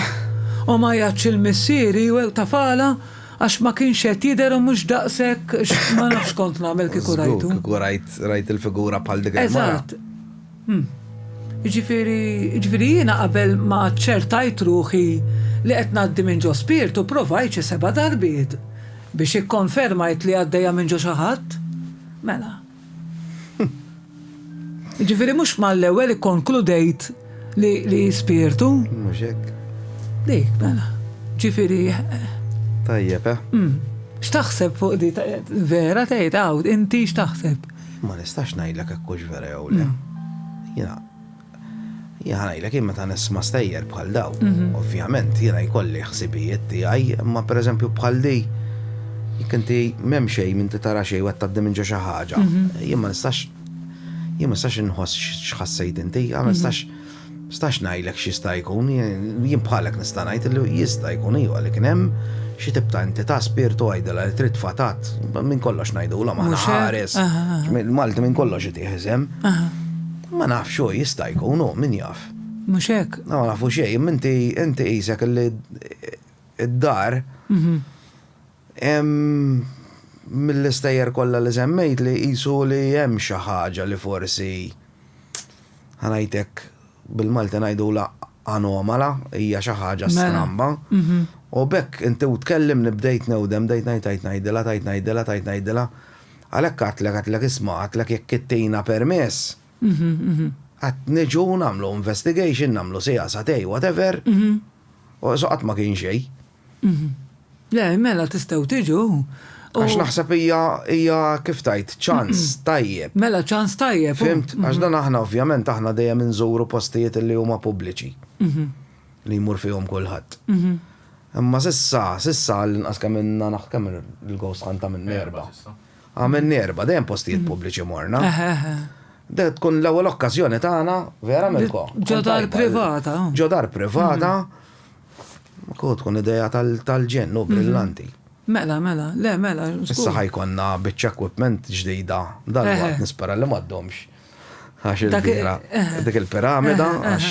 u ma għajjatx il-missieri u tafala. Għax ma kienx qed jidher u mhux daqshekk ma nafx x'kont nagħmel kieku rajtu. Żgur, kieku rajt rajt il-figura bħal dik il-mara. Eżatt. Hm. Jiġifieri, jiġifieri jiena qabel ma aċċertajt ruħi li qed ngħaddi minn ġo spirtu provajt xi seba' darbiet biex ikkonfermajt li għaddejja minn ġo xi ħadd. Mela. Jiġifieri mhux mal-ewwel ikkonkludejt li hi spirtu? Mhux hekk. Dik, mela. Ġifieri. Tajjeb, eh? Mm. X'taħseb fuq di vera tgħid hawn, inti x'taħseb? Ma nistax ngħidlek hekk hux vera jew le. Mm. Jiena Jien ngħidlek jien meta nisma' stejjer bħal daw, ovvjament jiena jkolli ħsibijiet tiegħi, imma pereżempju bħal di jekk inti m'hemm xejn inti tara xejn qed tgħaddi minn ġo xi ħaġa. Jien ma nistax jien ma nistax inħoss x'ħassejt inti, ma nistax nistax ngħidlek x'jista' jkun, jien bħalek nista' ngħid li jista' jkun iva li kien hemm xi tip ta' entità spirtu għidilha li trid fatat minn kollox ngħidulhom aħna ħares. Malti minn kollox itih iżem. Ma nafx hu, jista' jkun hu, min jaf. Mhux hekk? Ma nafu xejn, imma inti inti qisek li d-dar mill-istejjer kollha li semmejtli qisu li hemm xi ħaġa li forsi ħa ngħidlek bil-Malti ngħidulha anomala, hija xi ħaġa stramba. U b'hekk inti u tkellimni bdejt newdem, bdejt ngħid tajt ngħidilha, tajt ngħidilha, tajt ngħidilha. Għalhekk għidtlek, għidtlek isma', għidtlek jekk ittina permess, qed niġu nagħmlu investigation, nagħmlu siegħa satej, whatever, u so qatt ma kien xej. Le, mela tistgħu tiġu. Għax naħseb hija hija kif tajt ċans tajjeb. Mela ċans tajjeb. Fimt, għax dan aħna ovvjament aħna dejjem inżuru postijiet li huma pubbliċi. Li jmur fihom kulħadd. Imma s'issa, s'issa għall-inqas kemm ilna naħ, kemm il-ghost hunt għamilni erba'. Għamilni erba', dejjem postijiet pubbliċi morna. Deh tkun l-ewwel okkażjoni tagħna, vera Mirko? Ġo dar privata. Ġo dar privata. Hu tkun idea tal-ġenn, hu brillanti. Mela, mela, le mela. Issa ħa jkollna biċċa equipment ġdida, dalwaqt nispera li m'għaddhomx. Għax il-bira, dik il-piramida, għax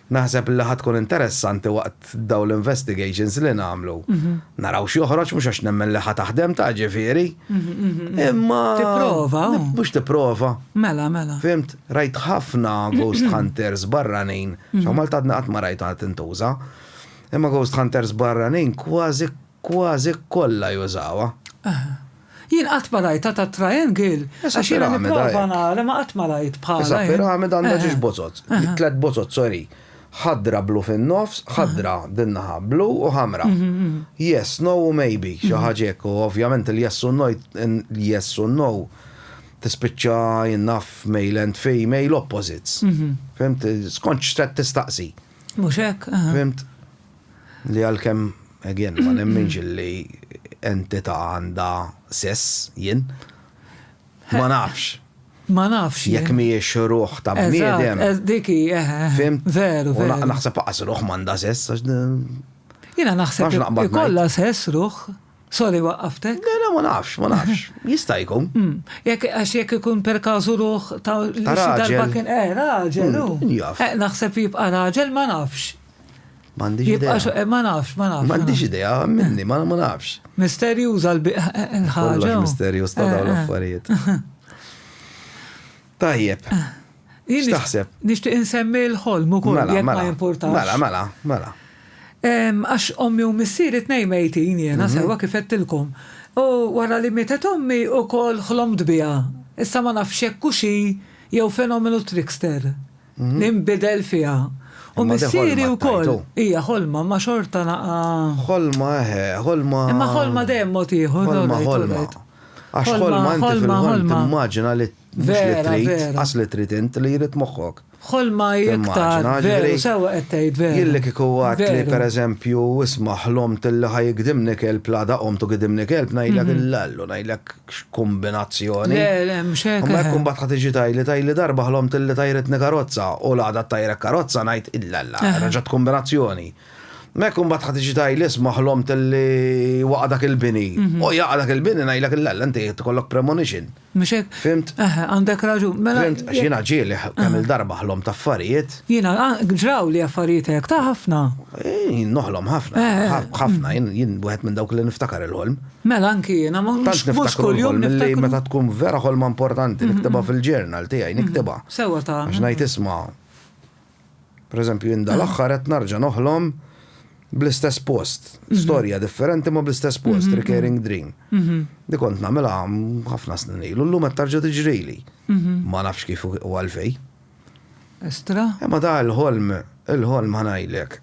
Naħseb li ħa tkun interessanti waqt dawn l-investigations li nagħmlu. Naraw x'joħroġ mhux għax nemmen li ħa taħdem ta' ġifieri. Imma. Tipprova. Mhux tipprova. Mela, mela. Fhimt, rajt ħafna ghost hunters barranin, x'hawn Malta għadni qatt ma rajtha tintuża. Imma ghost hunters barranin kważi Kważi kollha jużawha. Eħe. Jien qatt ma rajtha ta' triangle għax jiena nipprova nara imma qatt ma rajt bħalha. Issa piramida għandha ġiex bozot. Tliet bozot, sorry. Ħadra blu fin-nofs, ħadra din naħa blu u ħamra. Yes, no u maybe, xi ħaġa hekk u ovvjament il-yes u l-yes u n-no tispiċċa jien naf male and female opposites. Fihimt? Skont x'qed tistaqsi. Mhux hekk? Fihimt? Li għalkemm, again, ma nemminx li entità għandha sess, jien. Ma nafx. Ma nafx. Jekk mhijiex ruħ ta' bniedem. Dik hi, eħe. Fhimt? Veru, veru. U naħseb aqas ruħ m'għandha sess għax. Jiena naħseb ikollha sess ruħ. Sorry, waqqaftek? Le, le, ma nafx, ma nafx. Jista' jkun. Mm. Jekk għax jekk ikun per kazu ruħ ta' li xi darba kien eh raġel hu. Mm, jaf. Eh, naħseb jibqa' raġel ma nafx. M'għandix idea. Jibqa' eh, ma nafx, ma nafx. M'għandix idea minni, ma nafx. Misterjuża eh, eh, l-ħaġa. Kollox misterjuż ta' dawn l-affarijiet. Tajjeb. X'taħseb? Nixtieq insemmi l-ħolm ukoll mela, jekk ma mela. jimpurtax. Mela, mela, mela. Għax ommi u missieri tnejn mejtin jiena mhm. sewwa kif għedtilkom. U wara li mietet ommi ukoll ħlomt biha. Issa ma nafx hekk u xi jew fenomenu trickster. Ninbidel fiha. U missieri wkoll. Hija ħolma imma xorta naqa'. Ħolma eħe, ħolma. Imma ħolma dejjem mod ieħor. Ħolma ħolma. Għax ħolma inti fil-ħolm timmaġina li mhux li trid, qas li trid int li jrid moħħok. Ħolma iktar. Veru, sewwa qed tgħid veru. Jien li kieku għedt li pereżempju isma' ħlomt li ħa jigdimni kelb l-għada qomt u gidimni kelb ngħidlek illallu ngħidlek. kombinazzjoni. Le, le, mhux hekk. Ma jkun bat ħadd iġi tajli tajli darba ħlom tilli tajritni karozza u l-għada tajrek karozza ngħid illa la, raġat kombinazzjoni. Ma jkun bat ħadd iġi tajli isma' ħlom tilli waqa' dak il-bini. Mhm. U jaqa' dak il-bini ngħidlek illa la inti tkollok premonition. Mhux hekk. Fimt? Għandek raġun. Mela Fimt, għax jiena ġieli kemm il-darba ħlom ta' affarijiet. Jiena ah, ġraw li affarijiet hekk ta' ħafna. Noħlom ħafna, ħafna, jien wieħed minn dawk li niftakar il-ħolm. Mela anki jiena, mhux kuljum niftakru. Tant niftakru l-ħolm li meta tkun vera ħolma importanti niktibha fil-journal tiegħi, niktibha. Sewwa ta'. Għax ngħid isma', per eżempju jien dal-aħħar qed nerġa' noħlom bl-istess post, storja differenti imma bl-istess post, recurring dream. Li kont nagħmilha ħafna snin ilu, llum qed terġa' tiġrili. Ma nafx kif u għalfejn. Estra. Imma dan il-ħolm, il-ħolm ħa ngħidlek.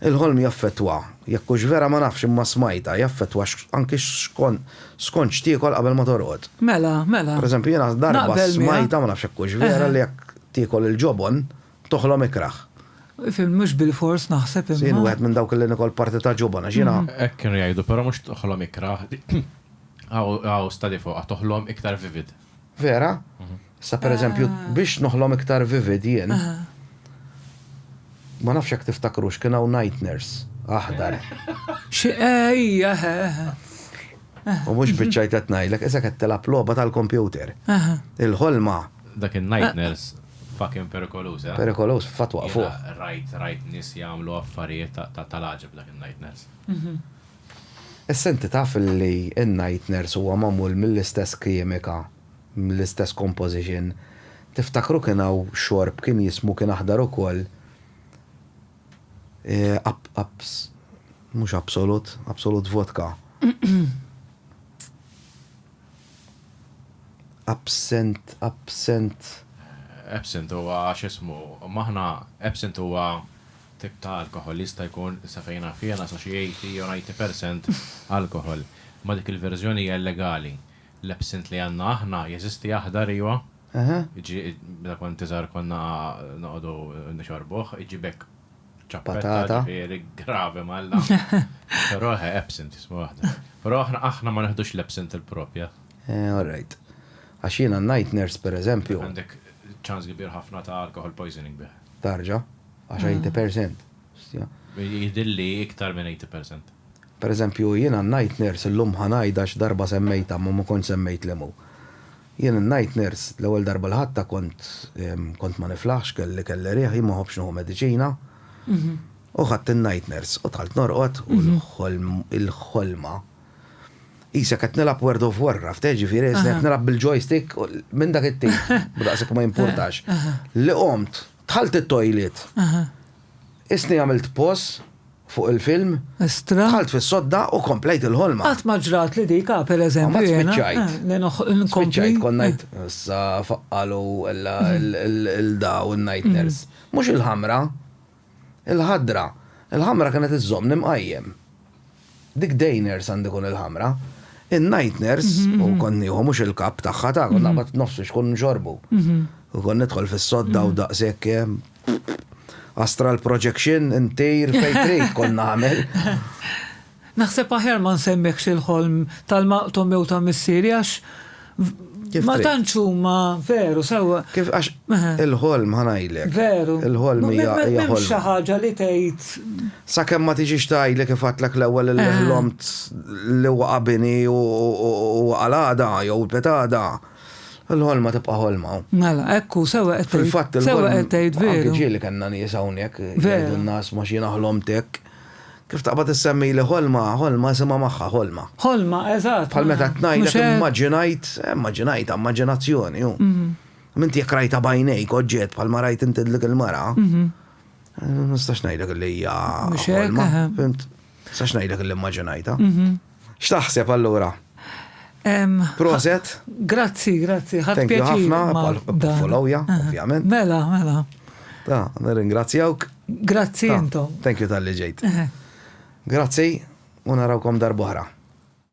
Il-ħolm jaffettwa, jekk hux vera ma nafx imma smajtha, jaffettwa anki skont x'tiekol qabel ma torqod. Mela, mela. Pereżempju jiena darba smajtha, ma nafx jekk hux vera, li jekk tiekol il-ġobon toħlom ikrah. Fim, mhux bilfors naħseb imma. Jien wieħed minn dawk li nikol parti ta' ġobon għax jiena. Hekk kienu jgħidu, però mhux toħlom ikrah, hawn stadi fuqha, toħlom iktar vivid. Vera? Sa per eżempju, ah. biex noħlom iktar vivid jien. Ma nafx jekk tiftakrux kien hawn night nurse aħdar. Xi ejja. Eh, eh. U mhux biċċajt qed ngħidlek, issa qed tilgħab logħba tal-kompjuter. Il-ħolma. Dak in-night eh. nurse fucking perikoluż, eh? Perikoluż fatwa fuq. Rajt, rajt nis jagħmlu affarijiet ta' tal-aġib dak il-night nurse. Mhm. Issa inti taf li n-night nurse huwa magħmul mill-istess kiemika, l-istess composition. Tiftakru kien hawn xorb kien jismu kien aħdar ukoll Abs. Mhux Absolut, Absolut vodka. Absent, Absent. Absent huwa x'ismu, m'aħna Absent huwa tip ta' alkoħol li jista' jkun, sa fejn naf jiena, sa xi 80 jew 90 percent alkoħol. Imma dik il-verżjoni hija illegali. L-absint li għandna aħna jeżisti aħdar, iva? Eħe. Jiġri meta kont iżgħar konna noqogħdu nixorbuh, jiġri b'hekk ċappetta, ġifieri gravi m'Alla. Però eħe, absint jismu aħdar. Però aħna ma neħdux l-absint il-proprja. Eh, all right. Għax jiena n-night nurse, pereżempju. Għandek ċans kbir ħafna ta' alcohol poisoning bih. Tarġa. Għax 80%. Jidilli iktar minn 80%. Per eżempju, jien għan-night nurse illum ħa ngħid għax darba semmejtha imma ma kontx semmejt li hu. Jien in-night nurse l-ewwel darba li ħadtha kont kont ma niflaħx, kelli kelli riħ, jien ma nħobbx nieħu mediċina. U ħadt in-night nurse u dħalt norqod u l-ħolm il-ħolma. Qisek qed nilgħab World of Warcraft, eh, ġifieri qed nilgħab bil-joystick minn dak it-tim, daqshekk ma jimpurtax. Li qomt Dħalt it-toilet. Qisni għamilt pause fuq il-film. Estra. Dħalt fis-sodda u komplejt il-ħolma. Qatt ma ġrat li dik, ah, per eżempju. Mbagħad spiċċajt. Spiċċajt kont ngħid issa faqqalu il-daw il-nightmares. Mhux il-ħamra. Il-ħadra. Il-ħamra kienet iżżommni mqajjem. Dik Deiners għandha tkun il-ħamra. In-Nightners, u kont nieħu mhux il-kapp tagħha, ta' kont naqbad nofsu x'kun nxorbu. U kont nidħol fis-sodda u daqshekk astral projection intejr fejn trid kont nagħmel. Naħseb aħjar ma nsemmikx il-ħolm tal-maqtugħ mewta missieri għax. Ma tantx huma veru sewwa. Kif għax il-ħolm ħanajlek. Veru. Il-ħolm hija ħolm. Xi ħaġa li tgħid. Sakemm ma tiġix tgħidli kif għatlek l-ewwel li ħlomt li waqa' bini u waqa' l-għada jew petada. Il-ħolma tibqa' ħolma. Mela, ekku, sewwa qed tgħid. Fil-fatt il-ħolma. Sewwa qed tgħid veru. Ġieli kellna nies hawnhekk. Veru. Nas ma xi naħlomtek. Kif taqbad issemmili ħolma, ħolma isimha magħha, ħolma. Ħolma, eżatt. Bħal meta qed ngħidlek immaġinajt, immaġinajt, immaġinazzjoni hu. Minti jekk rajta bajnejk oġġett bħal ma rajt inti dik il-mara, nistax ngħidlek li hija ħolma. Nistax ngħidlek li immaġinajta. X'taħseb allura? Proset. Grazzi, grazzi. Ħadd pjaċir. Ħafna, followja, ovvjament. Mela, mela. Ta, nirringrazzjawk. Grazzi intom. Thank you tal-li ġejt. Grazzi, u narawkom darbohra.